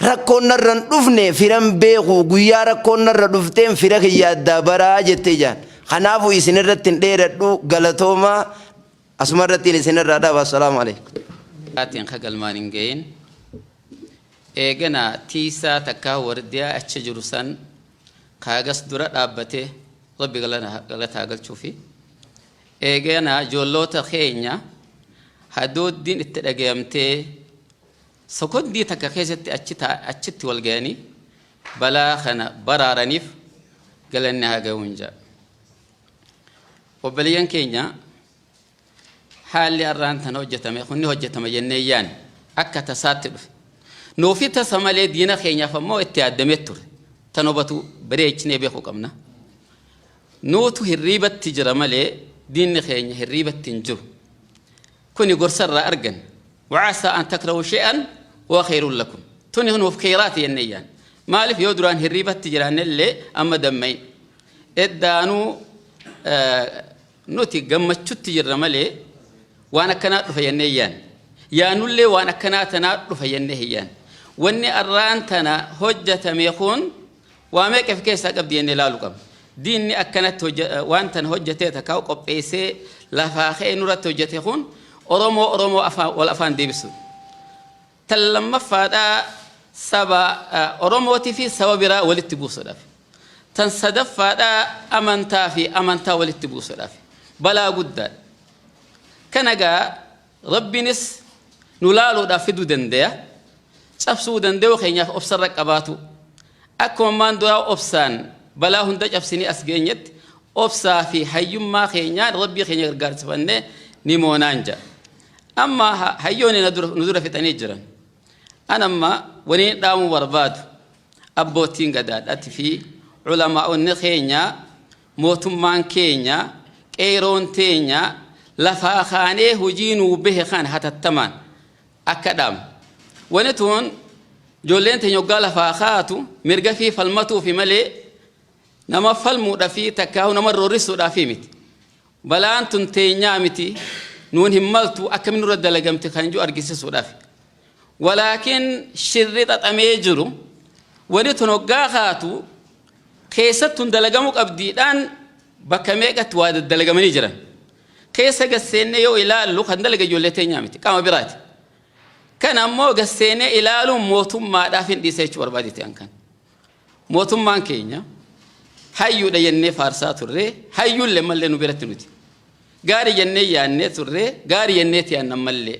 rakkoon narra hin dhufne firan beeku guyyaa rakkoon narra dhufteen fira kiyya addaa baraa jette jaan. Kanaafuu isin irratti hin dheeradhu galatoomaa. Asuma irrattiin isin irraa dhaaba. Assalaamu alaikum. Atiin ka galmaan hin gahin. Eeganaa tiisaa takkaa wardiyaa achi jiru san kaagas dura dhaabbate rabbi galataa galchuufi. Eeganaa joolloota keenya hadooddiin itti dhagayamtee sokoddii takka keessatti achitti wal gayanii balaa kana baraaraniif galanni haa gahuun jaa. Obboleeyyan keenya haalli arraan tana hojjetame kun ni hojjetama jennee yaanne akka tasaatti dhufe. Nuufi tasa malee diina keenyaaf ammoo itti yaaddamee ture. Tan hubatu bareechinee beekuu qabna. Nuutu hirriibatti jira malee diinni keenya hirriibatti hin jiru. Kuni gorsa irraa arganne. Wa'asaa an takrahu shay'an huwa khayrun lakum. Tuni nuuf kheyraati jennee yaanna. Maaliif yoo duraan hirriibatti jiraanne illee amma damma'iin. Eddaanuu nuti gammachutti jirra malee waan akkanaa dhufa jennee hin yaanne. Yaannu illee waan akkanaa tanaa dhufa jennee hin yaanne. Wanni arraan tana hojjatame kun Waa meeqa if keessaa qabdi jennee laalu qabna. Diinni akkanatti hojja waan tana hojjatee takkaa qopheessee lafaa ka'ee nurratti hojjate kun Oromoo Oromoo afaan wal afaan deebisuu. Tan lammaffaadhaa saba Oromootii fi saba biraa walitti buusudhaaf. Tan sadaffaadhaa amantaa fi amantaa walitti buusudhaaf. Balaa guddaadha. Kana gaa Rabbinis nu laaluudhaaf fiduu dandeya. Cabsuu dandayuu keenyaaf obsa irra qabaatuu. Akkuma ammaan duraa obsaan balaa hunda cabsinee as geenyetti obsaa fi hayyummaa keenyaan Rabbii keenya gargaarsifannee ni moonaan ja. Amma hayyoonni nu dura fixanii jiran. An amma waniin dhaamuu barbaadu abboottiin gadaadhaati fi culamaa'onni keenyaa Mootummaan keenya qeeyroon teenya lafaa kaanee hojii nuu behe kana hatattamaan akka dhaabnu. Wani tun ijoolleen teenya hoggaa lafaa kaatu mirgafii falmatuufi malee nama falmuudhafi takkaahu nama roorrisuudhaafi miti. Balaan tun teenyaa miti nuun hin maltu akkamiin nurra dalagamti kan jiru argisisuudhaafi. Walaakin shirri xaxamee jiru wani tun hoggaa kaatu keessattun dalagamu qabdi dhaan bakka meeqatti waa daddalagamanii jiran keessa gad seennee yoo ilaallu kan dalaga ijoollee teenyaa miti qaama biraati. Kan ammoo gad seenee ilaaluun mootummaadhaaf hin dhiisa jechuu barbaadeti an kan. Mootummaan keenya hayyuudha jennee faarsaa turree hayyuullee mallee nu biratti nuti. Gaari jennee yaannee turree gaari jennee tiyaan ammallee.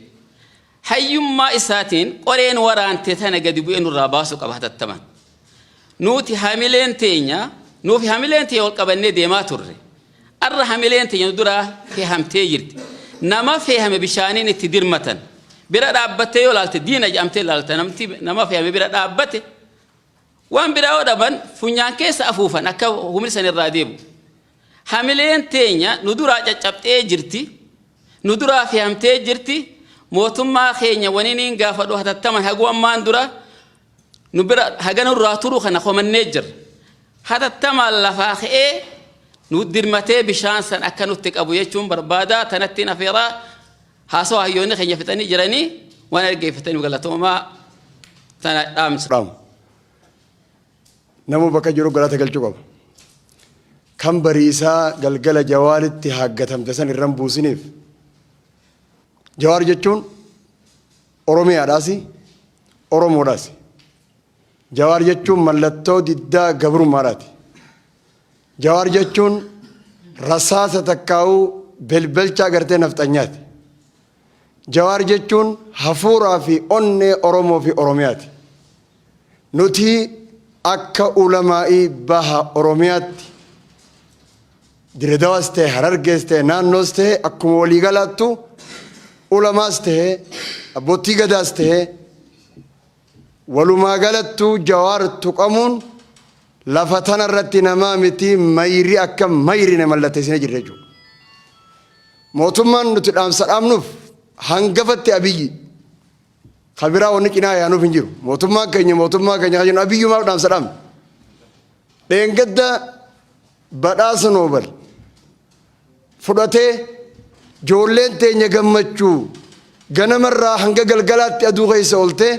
Hayyummaa isaatiin qoreen waraante tana gadi bu'ee nurraa baasuu qaba hatattamaan. Nuuti hamileen teenya, nuufi hamileen teenya wal qabannee deemaa turre. Arra hamileen teenya nu duraa fehamtee jirti. Nama feehame bishaaniin itti dirmatan. Bira dhaabbattee yoo laalte diina jedhamtee laalta. Namti nama feehame bira dhaabbate Waan biraa yoo dhaban funyaan keessa afuufan akka humni san irraa deemu. Hamileen teenya nu duraa caccabxee jirti, nu duraa fehamtee jirti, mootummaa keenya waniniin gaafadhu hatattaman haguu ammaan dura nu bira haga nurraa turu kana komannee jirra. Hatattamaan lafaa ka'ee nu dirmatee bishaan san akka nutti qabu jechuun barbaadaa tanattiin afeeraa Haasawa hayyoonni keenya fixanii jiranii waan dhaggeeffataniif galatoomaa tana dhaamsa. dhaamu. Nama bakka jiru galata galchuu qaba. Kan bariisaa galgala jawaaritti haaggatamte san irran buusiniif. Jawaar jechuun Oromiyaadhaasi, Oromoodhaasi. Jawaar jechuun mallattoo diddaa gabrummaadhaati. Jawaar jechuun rasaasa takkaawuu belbelcha agartee nafxanyaati. Jawaar jechuun hafuuraa fi onnee Oromoo fi Oromiyaati. Nuti akka ulamaa'ii baha Oromiyaatti Diredawaas ta'e Harargees ta'e naannoos ta'e akkuma walii galaattu ulamaas ta'e abbootii gadaas ta'e Walumaagalattuu Jawaar tuqamuun lafa tana irratti namaa miti mayri akka mayrine mallatteessinee jirra jechuudha. Mootummaan nuti dhaamsa dhaamnuuf hangafatti Abiyyi ka biraa wanni cinaa yaanuuf hin jiru. Mootummaan keenya mootummaa keenya kan jennu Abiyyumaaf dhaamsa dhaamna. Dheengadda badhaasa Noobel fudhatee joolleen teenya gammachuu ganama irraa hanga galgalaatti aduu keessa oltee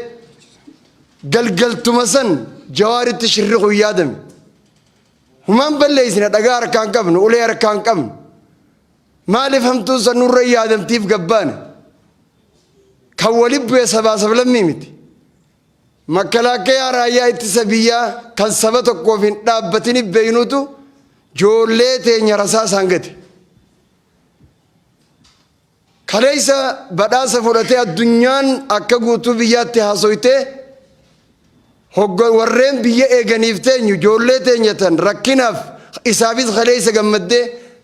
galgaltuma san jawaaritti shirri kun yaadame humaan balleessina dhagaa harkaan qabnu ulee harkaan qabnu maaliif hamtuun san nurra yaadamtiif gabbaane kan wali bu'e sabaa sablammii miti Makkalaakkayaa raayyaa ittisa biyyaa kan saba tokkoof hin dhaabbatini beeynutu joollee teenya rasaasaan gate. Kaleessa badhaasa fudhatee addunyaan akka guutuu biyyaatti haasoytee hogga warreen biyya eeganiif teenyu joollee teenya tan rakkinaaf isaafis kaleessa gammaddee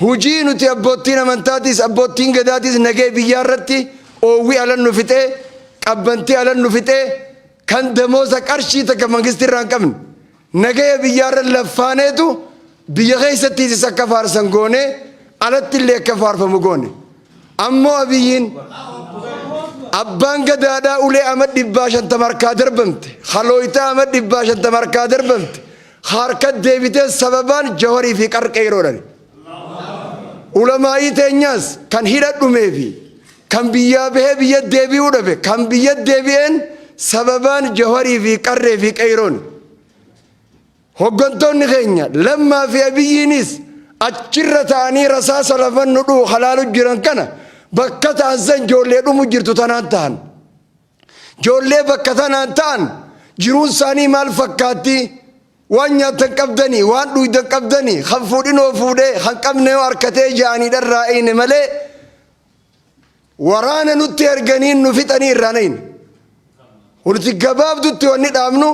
Hujii nuti abboottiin amantaatiis abboottiin gadaatiis nagee biyyaa irratti oowwi alan nu fixee qabbantii alan nu fixee kan damoosa qarshii takka mangisti irraa hin qabne nagaya biyyaa irra laffaaneetu biyya keessattiisis akka faarsan goonee alatti illee akka faarfamu goone. Ammoo Abiyyiin Abbaan Gadaadhaa ulee ama dhibbaa shantama harkaa darbamte, ka looytaa ama dhibbaa shantama harkaa darbamte, ka harkatti deebitee sababaan Jawarii fi qar qeeyroodhani. Ulamaa'ii teenyaas kan hidha dhumee fi kan biyyaa bahee biyyatti deebi'uu dhabe, kan biyyatti deebi'een sababaan Jawarii fi qarree fi qeeyrooni. Hoggantoonni keenya Lammaa fi Abiyyiinis achirra ta'anii rasaasa lafan nu dhuhu ka laalu jiran kana bakka ta'an san joollee dhumu jirtu tanaan ta'an. Joollee bakka tanaan ta'an jiruun isaanii maal fakkaatti? Waan nyaatan qabdanii, waan dhuuydan qabdanii, kan fuudhinoo fuudhee, kan qabneyoo arkatee ja'anii dharraa'eyne malee, waraana nutti erganii nu fixanii irraa nayne nuti gabaabdutti wanni dhaabnu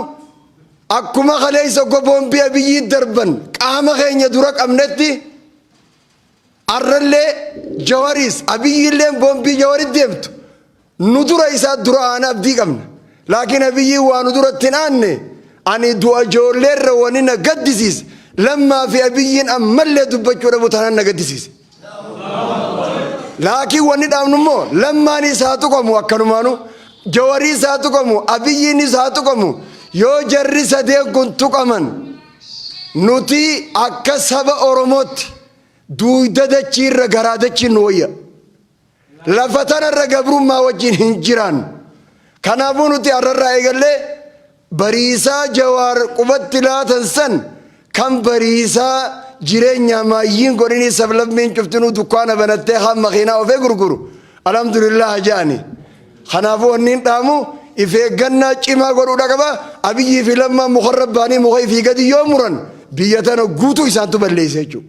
akkuma kaleessa oggo boombii abiyyii darban qaama keenya dura qabnetti arrallee jawariis abiyyiilleen boombii jawarit deemtu Nu dura isaa dura aanaa abdii qabna. Laakiin Abiyyiin waa nu duratti hin aanne ani du'a ijoolleerra wani na gaddisiise lammaa fi Abiyyiin ammallee dubbachuu dhabu tanan na gaddisiise. Laakiin wanni dhaabnu immoo lammaanis haa tuqamu akkanumaanu jawariis haa tuqamu abiyyiinis haa tuqamu yoo jarri sadee kun tuqaman nuti akka saba Oromootti duuyda dachiirra garaa dachiin nu wayya. Lafa tanarra gabrummaa wajjin hin jiraannu. Kanaafuu nuti har'arraa eegallee Bariisaa Jawaar qubatti laatan san kan Bariisaa jireenyaa maayyiin godhinii sablammiin cuftinuu dukkaana banattee kaan makiinaa ofee gurguru alhamdulillaah ja'ani. Kanaafuu wanniin dhaamu if eeggannaa cimaa godhuudha qaba. Abiyyii fi Lammaan mukarra baanii muka ifii gadi yoo muran biyya tana guutuu isaantu balleessa jechuudha.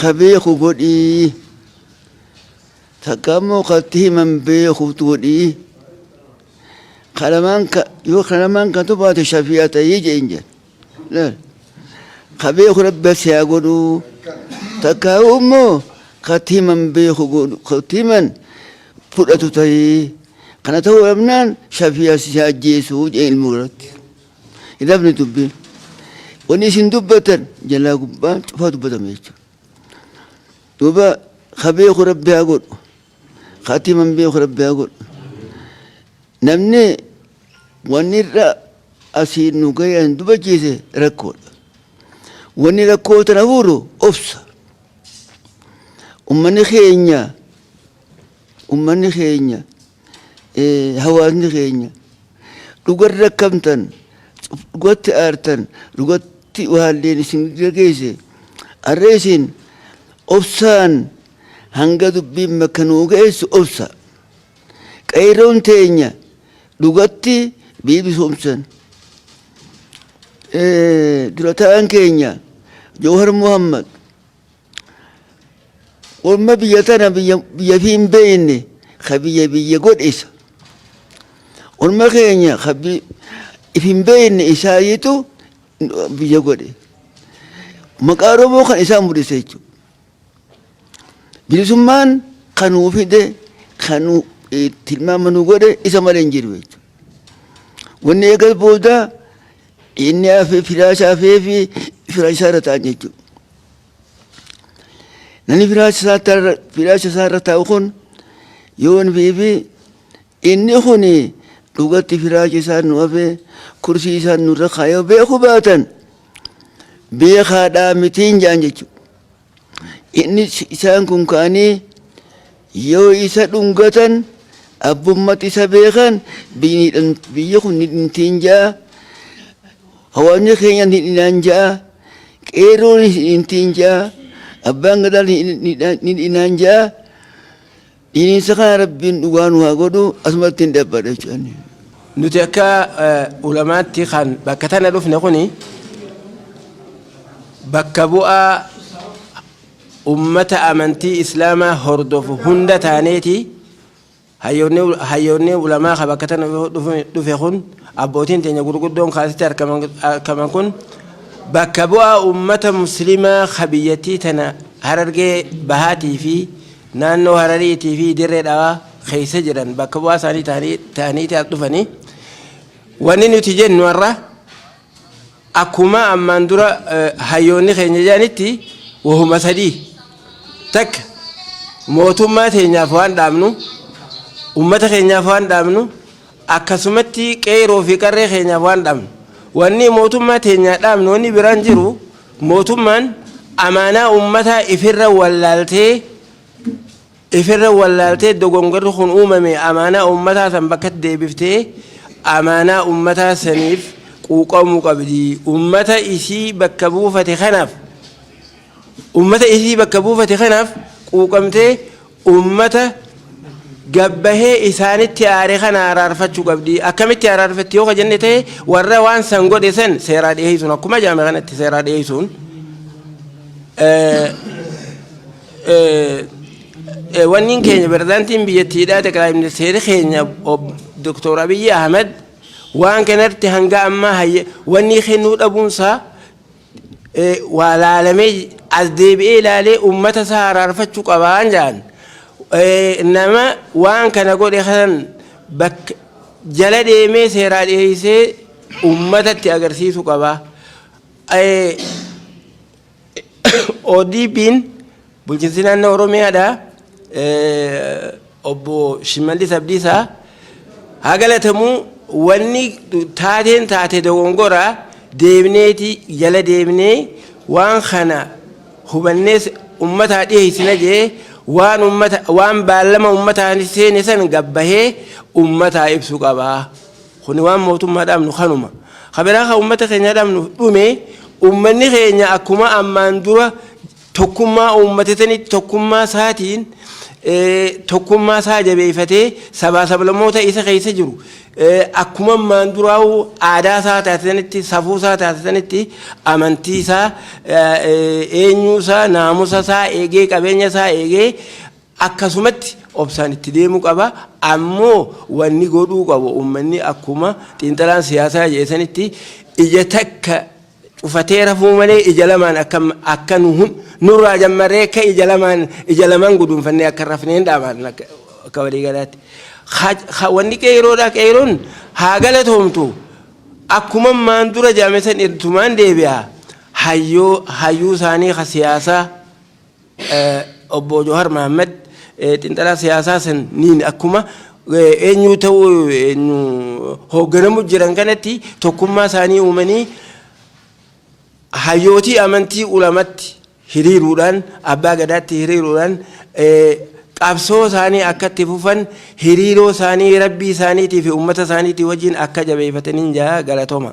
ka beeku godhii takka ammoo ka itti himan beeku godhii ka lamaan ka yoo ka lamaan kan tubaate shafi'a ta'ii jeen jeen laal ka beeku rabbi si haa godhu takka ammoo ka itti himan beeku godhu ka itti himan fudhatu ta'ii kana ta'uu dhabnaan shafi'a si haa ajjeesu jeen ilmoo irratti. Hidhamni dubbii wanni isin dubbatan jalaa gubbaan cufaa dubbatame jechuudha. Duuba ka beeku rabbi haa godhu. Ka ati himan beeku rabbi haa godhu. Namni wanni irra asii nu gayan dubachiise rakkoodha. Wanni rakkoo tana fuuru obsa. Ummanni keenya ummanni keenya hawaasni keenya dhuga rakkamtan dhugatti aartan dhugatti waalleen isin gegeesse arra isin obsaan hanga dubbiin makka nuu geessu obsa qeeyroon teenya dhugatti biibisomsan durataan keenya jawhar muhammad Orma biyya tana biyya biyya fi hin beekne ka biyya biyya godhisa. Orma keenya ka bi- if hin beekne isaayitu biyya godhe. Maqaa Oromoo kan isaan mul'ise jechuudha. Bilisummaan kan nuu fide kan nu eh, tilmaama nu godhe isa malee hin jiru jechuudha. Wanni eegas booda inni hafee firaa isaa hafee fi firaa isaa irra ta'an jechuudha. Namni firaacha isaa irra taa'u kun yoo NBB inni kun dhugatti firaacha isaan nu hafee kursii isaan nurra kaayoo beeku baatan beekaadhaa mitiin jaan jechuudha. Inni isaan kun kaanii yoo isa dhungatan abbummatti isa beekan biyyi kun ni dhintiin jaa Hawaasni keenya ni dhinaan ja'a, qeerroon ni dhintiin ja'a, abbaan gadaa ni dhinaan ja'a. Dhininsa kana rabbiin dhugaa nu haa godhu asumatti hin dhabbadha jechuudha. Nuti akka ulamaatti kan bakka tana dhufne kuni bakka bu'aa ummata amantii islaamaa hordofu hunda taaneeti. Hayyoonni ulamaa ka bakka tana dhufe kun abbootiin teenya gurguddoon ka asitti argaman kun bakka bu'aa uummata muslimaa ka biyyattii tana harargee bahaatii fi naannoo harariitii fi dirree dhawaa keessa jiran bakka bu'aa isaanii ta'aniiti as dhufanii wanni nuti jennu har'a akkuma ammaan dura hayyoonni keenya jedhanitti wahuma sadii takka mootummaa teenyaaf waan dhaabnu ummata keenyaaf waan dhaabnu akkasumatti qeeroo fi qarree keenyaaf waan dhaabnu wanni mootummaa teenyaa dhaabnu wanni biraan jiru mootummaan amaanaa ummataa ifirra wallaaltee Ifirra wallaaltee dogongorri kun uumame amaanaa uummataa san bakkatti deebiftee amaanaa uummataa saniif quuqamuu qabdi. Uummata isii bakka buufate kanaaf uummata isii bakka buufate kanaaf quuqamtee uummata gabbahee isaanitti aare kana araarfachuu qabdi. Akkamitti araarfatti yoo ka jenne ta'e warra waan san godhe san seeraa dhiyeessuun akkuma jaame kanatti seeraa dhiyeessuun Wanniin keenya pirezidaantiin biyyattiidhaa xaqilaa ministeerri keenya Dr. Abiyyi Ahmed waan kanatti hanga ammaa wannii kennuu dhabuunsaa waa laalamee as deebi'ee ilaalee uummata isaa araarfachuu qabaan jedhan nama waan kana godhe kanan bakka jala deemee seeraa dhiyeessee uummatatti agarsiisu qabaa. ODP'n bulchiinsi naannoo Oromiyaadha. Obbo Shimallis Abdiisaa haa galatamu wanni taateen taate dogongoraa deebneeti jala deebnee waan kana hubannees ummataa dhiheessina jee waan ummata waan baallama ummataa seene san gabbahee ummataa ibsu qabaa. Kuni waan mootummaa dhaabnu kanuma. Ka biraa ka uummata keenyaa dhaabnu dhume uummanni keenya akkuma ammaan dura tokkummaa uummatatanitti tokkummaa isaatiin tokkummaa isaa jabeeffatee sabaa sablamoota isa keessa jiru akkuma ammaan duraa'u aadaa isaa taasisanitti safuu isaa taasisanitti amantii isaa eenyuu isaa naamusa isaa eegee qabeenya isaa eegee Akkasumatti obsaan itti deemuu qaba. Ammoo wanni godhuu qabu ummanni akkuma xiinxalaan siyaasaa jedhe sanitti ija takka cufatee rafuu malee ija lamaan akka akka nu hun- nurraa jammaree akka ija lamaan ija lamaan guduunfannee akka hin rafneen dhaamaan akka akka waliigalaatti. Ha- ha- Wanni qeeyroodhaa qeeyroon haa galatoomtu akkuma maan dura jaame san irtumaan deebi'a hayyoo hayyuu isaanii ka siyaasaa Obbo Jawahar Mohammed xinxalaa siyaasaa saniin akkuma eenyuu ta'uu eenyu hoogganamu jiran kanatti tokkummaa isaanii uumanii hayyootii amantii ulamatti hiriiruudhaan abbaa gadaatti hiriiruudhaan qabsoo isaanii akka itti fufan hiriiroo isaanii rabbii isaaniitii fi uummata isaaniitii wajjin akka jabeeffataniin jaa galatoma.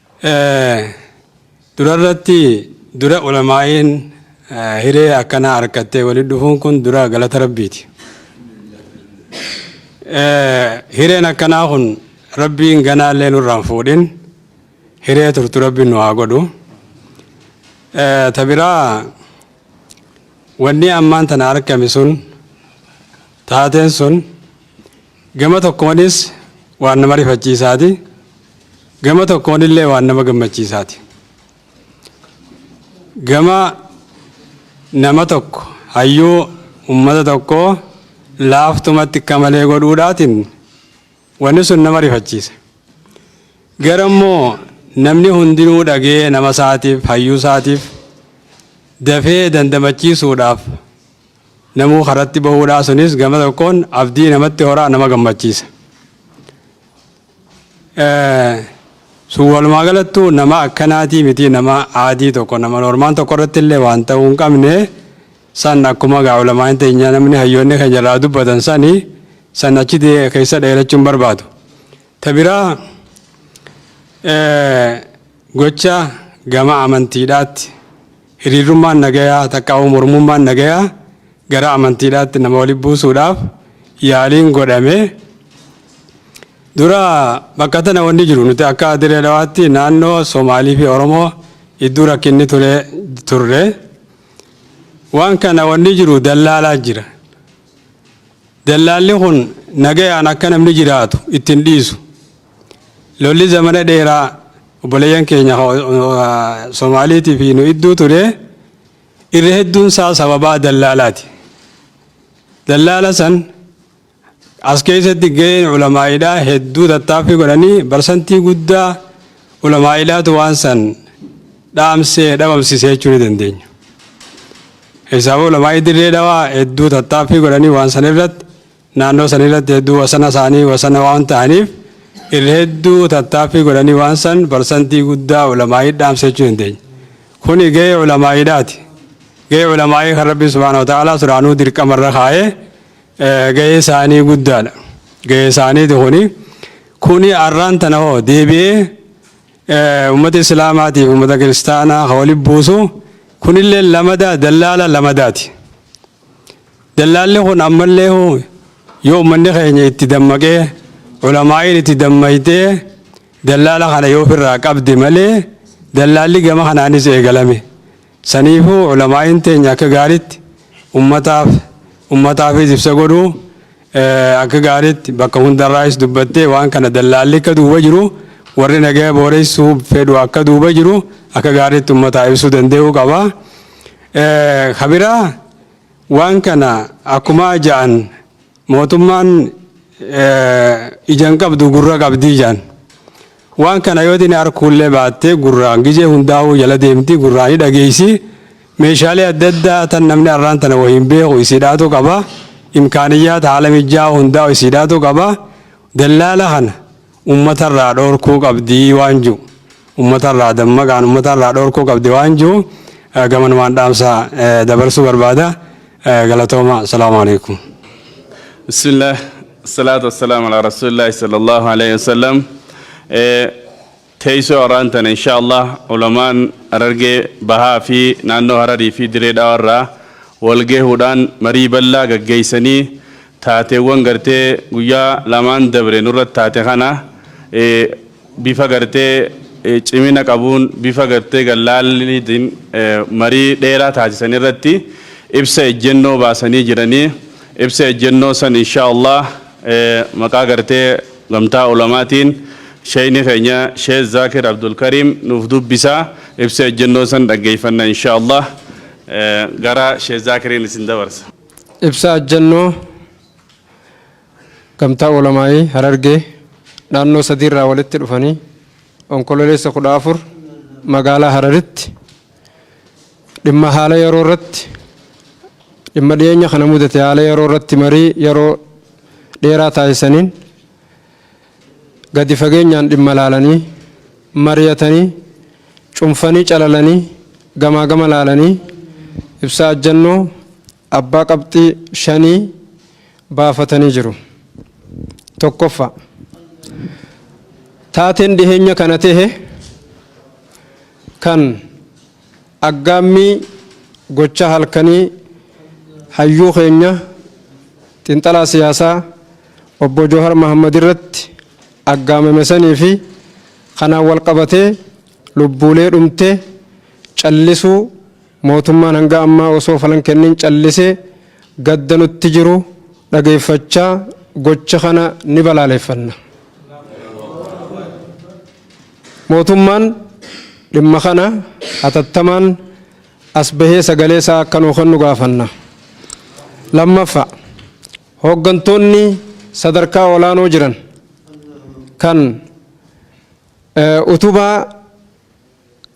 Durarratti dura ulamaa'iin hiree akkanaa arkattee walitti dhufuun kun dura galata rabbiiti. Hireen akkanaa kun rabbiin ganaallee nurraan fuudhin hiree turtu rabbiin nu haa godhu. Ta biraa wanni ammaan tana arkame sun taateen sun Gama tokkoonis waan nama rifachiisaati, gama tokkoonillee waan nama gammachiisaati. Gama nama tokko hayyuu ummata tokkoo laaftumatti akka malee godhuudhaatiin wanni sun nama rifachiisa. Gara immoo namni hundinuu dhagee nama isaatiif hayyuu isaatiif dafee dandamachiisuudhaaf namuu karatti bahuudhaa sunis gama tokkoon abdii namatti horaa nama gammachiisa. Sun walumaa galattuu nama akkanaatii miti nama aadii tokko nama normaan tokko irratti illee waan ta'uu hin qabne san akkuma gaa ulamaan teenya namni hayyoonni keenya irraa dubbatan sani san achi keessa dheerachuun barbaadu. Ta biraa, gocha gama amantiidhaatti hiriirrummaan nagayaa takkaa'uu mormummaan nagayaa gara amantiidhaatti nama walitti buusuudhaaf yaaliin godhame dura bakka tana wanni jiru nuti akka diree dhawaatti naannoo Somaalii fi Oromoo iddoo rakkinni ture turre waan kana wanni jiru dallaalaa jira. Dallaalli kun nagayaan akka namni jiraatu itti hin dhiisu. Lolli zamana dheeraa obboleeyyan keenya Somaaliitii fi nu idduu ture irra hedduun isaa sababaa dallaalaati. Dallaala san as keessatti gaheen ulamaa'idhaa hedduu tattaaffii godhanii barsantii guddaa Ulamaa'idhaatu waan san dhaamsee dhabamsisee jechuu ni dandeenya. Isaafuu ulamaa'ii dirree dhawaa hedduu tattaaffii godhanii waan san irratti naannoo san irratti hedduu wasana isaanii wasana waan ta'aniif irra hedduu tattaaffii godhanii waan san parsantii guddaa ulamaa'ii dhaamsee jechuu dandeenya. Kuni gahee ulamaa'idhaati. Gahee ulamaa'ii kan Rabbi subhaanahu wa ta'aalaa suraanuu dirqama irra kaa'ee gahee isaanii guddaadha. Gahee isaaniiti kuni. Kuni arraan tana hoo deebi'ee uummata Islaamaatiif uummata Kiristaanaa kan walitti buusu kunillee lamadaa dallaala lamadaati. Dallaalli kun ammallee yoo uummanni keenya itti dammaqee ulamaa'iin itti dammaytee dallaala kana yoo ofirraa qabde malee dallaalli gama kanaanis eegalame. Saniifuu ulamaa'iin teenya akka gaariitti ummataaf ummataafis ibsa godhu, akka gaariitti bakka hundarraayis dubbattee waan kana dallaalli akka duuba jiru, warri nagaya booreessuu fedhu akka duuba jiru akka gaariitti ummataa ibsuu dande'uu qaba. Ka biraa waan kana akkumaa ja'an Mootummaan ija hin qabdu gurra qabdi jaan. Waan kana yoo tini arkuullee baattee gurraan gizee hundaa'uu jala deemti gurraan ni dhageessi. Meeshaalee adda addaa tan namni arraan tana wayii hin beeku isiidhaatu qaba. Imkaaniyyaata haala mijjaa'aa hundaa'u isiidhaatu qaba. Dallaala kana ummata irraa dhoorkuu qabdi waan jiru ummata irraa dammaqaan ummata irraa dhoorkuu qabdi waan jiru gamanumaan dhaamsa dabarsuu barbaada galatooma salaamu alaikum. bismillah salaatu wassalaamu ala rasuulillahi sallallahu alaihi wasallam teessoo har'aan tana insha allah ulamaan harargee bahaa fi naannoo hararii fi diree dhawarraa walgahuudhaan marii bal'aa gaggeessanii Taateewwan gartee guyyaa lamaan dabre nurratti taate kana bifa gartee cimina qabuun, bifa gartee gad-laalliitiin marii dheeraa taasisan irratti ibsa ejjennoo baasanii jiranii. Ibsa ejjennoo san inshaa Allaah maqaa gartee Gamtaa Ulamaatiin Sheyni keenya Sheeh Zaakir Abdulkariim nuuf dubbisa. Ibsa ejjennoo san dhaggeeyfanna inshaa Allaah. Gara Sheeh Zaakiriin isin dabarsa. Ibsa ajjannoo Gamtaa Ulamaa'ii Harargee naannoo sadii irraa walitti dhufanii Onkololeessa 14 magaalaa Hararitti dhimma haala yeroo irratti dhimma dhiyeenya kana mudate haala yeroo irratti marii yeroo dheeraa taasisaniin gadi fageenyaan dhimma laalanii, mariyatanii, cunfanii calalanii, gamaa gama laalanii ibsaa ajjannoo abbaa qabxii shanii baafatanii jiru. Tokkoffa, taateen dhiheenya kana tehe kan Aggaammii gochaa halkanii hayyuu keenya xinxalaa siyaasaa Obbo Joohar Mahaammad irratti aggaamame sanii fi kanaan wal qabatee lubbuulee dhumte callisuu mootummaan hanga ammaa osoo falan kennin callisee gadda nutti jiru dhageeffachaa gocha kana ni balaaleffanna. Mootummaan dhimma kana hatattamaan as bahee sagalee isaa akka nuu kennu gaafanna. Lammaffaa, hooggantoonni sadarkaa olaanoo jiran kan utubaa.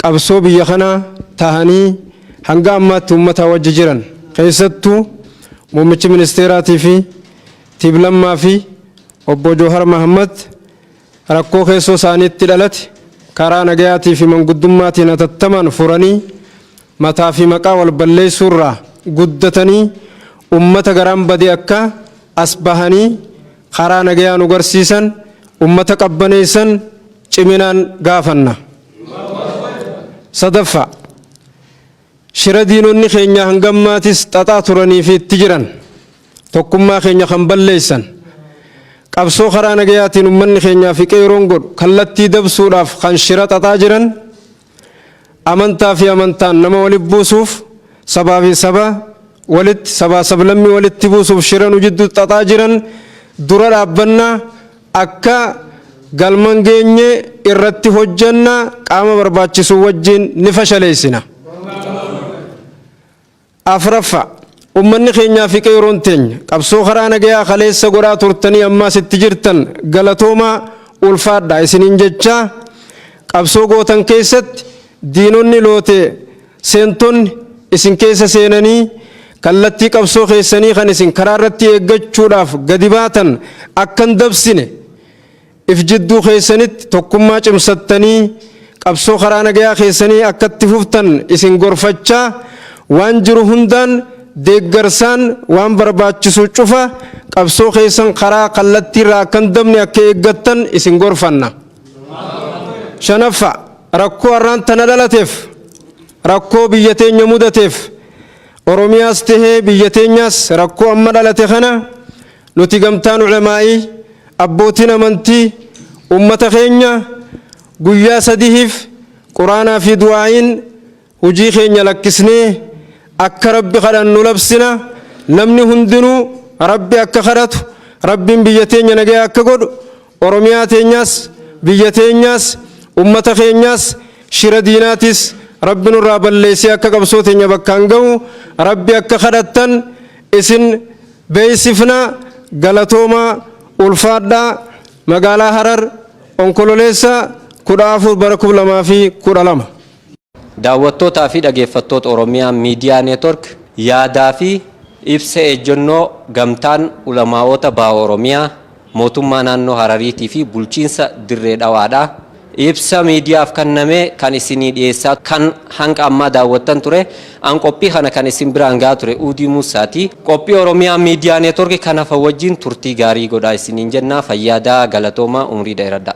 qabsoo biyya kanaa tahanii hanga ammaatti ummataa wajji jiran keessattuu muummichi ministeeraatii fi Tib Lammaa fi Obbo Joohar Mahaammad rakkoo keessoo isaaniitti dhalate karaa nagayaatii fi manguddummaatiin hatattamaan furanii mataa fi maqaa wal balleessuu irraa guddatanii ummata garaan bade akka as bahanii karaa nagayaa nu garsiisan ummata qabbaneessan ciminaan gaafanna. Sadaffaa, shira diinonni keenya hanga ammaatis xaxaa turanii fi itti jiran tokkummaa keenya kan balleessan, qabsoo karaa nagayaatiin ummanni keenyaa fi qeeroon godhu kallattii dabsuudhaaf kan shira xaxaa jiran, amantaa fi amantaan nama walitti buusuuf, sabaa fi saba walitti, sabaa sablammii walitti buusuuf shira nu jidduutti xaxaa jiran dura dhaabbannaa, Akka galma hin geenye irratti hojjenna, qaama barbaachisuu wajjin ni fashaleessina. Afraffaa, ummanni keenyaa fi qeeroon teenya qabsoo karaa nagayaa kaleessa godhaa turtanii ammaas itti jirtan galatoomaa, ulfaadhaa isiniin jechaa, qabsoo gootan keessatti diinonni lootee, Seentonni isin keessa seenanii kallattii qabsoo keessanii kan isin karaa irratti eeggachuudhaaf gadi baatan akka hin dabsine if jidduu keessanitti tokkummaa cimsattanii qabsoo karaa nagayaa keessanii akka itti fuftan isin gorfachaa waan jiru hundaan deeggarsaan waan barbaachisu cufa qabsoo keessan karaa kallattiirraa akka hin dabne akka eeggattan isin gorfanna. shanaffa rakkoo har'aan tana dhalateef rakkoo biyya teenya mudateef oromiyaas tahee biyya teenyaas rakkoo amma dhalate kana nuti gamtaan ulamaa'ii abbootiin amantii ummata keenya guyyaa sadihiif quraanaa fi du'aa'iin Hujii keenya lakkisnee akka Rabbi kadhannu labsina. Namni hundinuu Rabbi akka kadhatu, Rabbiin biyya teenya nagaya akka godhu, Oromiyaa teenyaas, biyya teenyaas, ummata keenyaas, shira diinaatiis Rabbi nurraa balleessee akka qabsoo teenya bakkaan gahu Rabbi akka kadhattan isin beeksifna. Galatoomaa! Ulfaadhaa! Magaalaa Harar, Onkololeessa 14 bara 2012. Daawwattootaa fi dhageeffattoota Oromiyaa Miidiyaa Network yaadaa fi ibsa ejjennoo Gamtaan Ulamaa'oota Baha Oromiyaa, Mootummaa Naannoo Harariitii fi Bulchiinsa Dirree Dhawaadhaa ibsa miidiyaaf kanname kan isinii dhiyeessaa kan hanga ammaa daawwattan ture. An qophii kana kan isin biraan gahaa ture Uudii Muussaa ti. Qophii Oromiyaa Miidiyaa Network kan hafan wajjin turtii gaarii godhaa isiniin jenna. Fayyaa dahaa, galatoomaa, umrii dheeradhaa.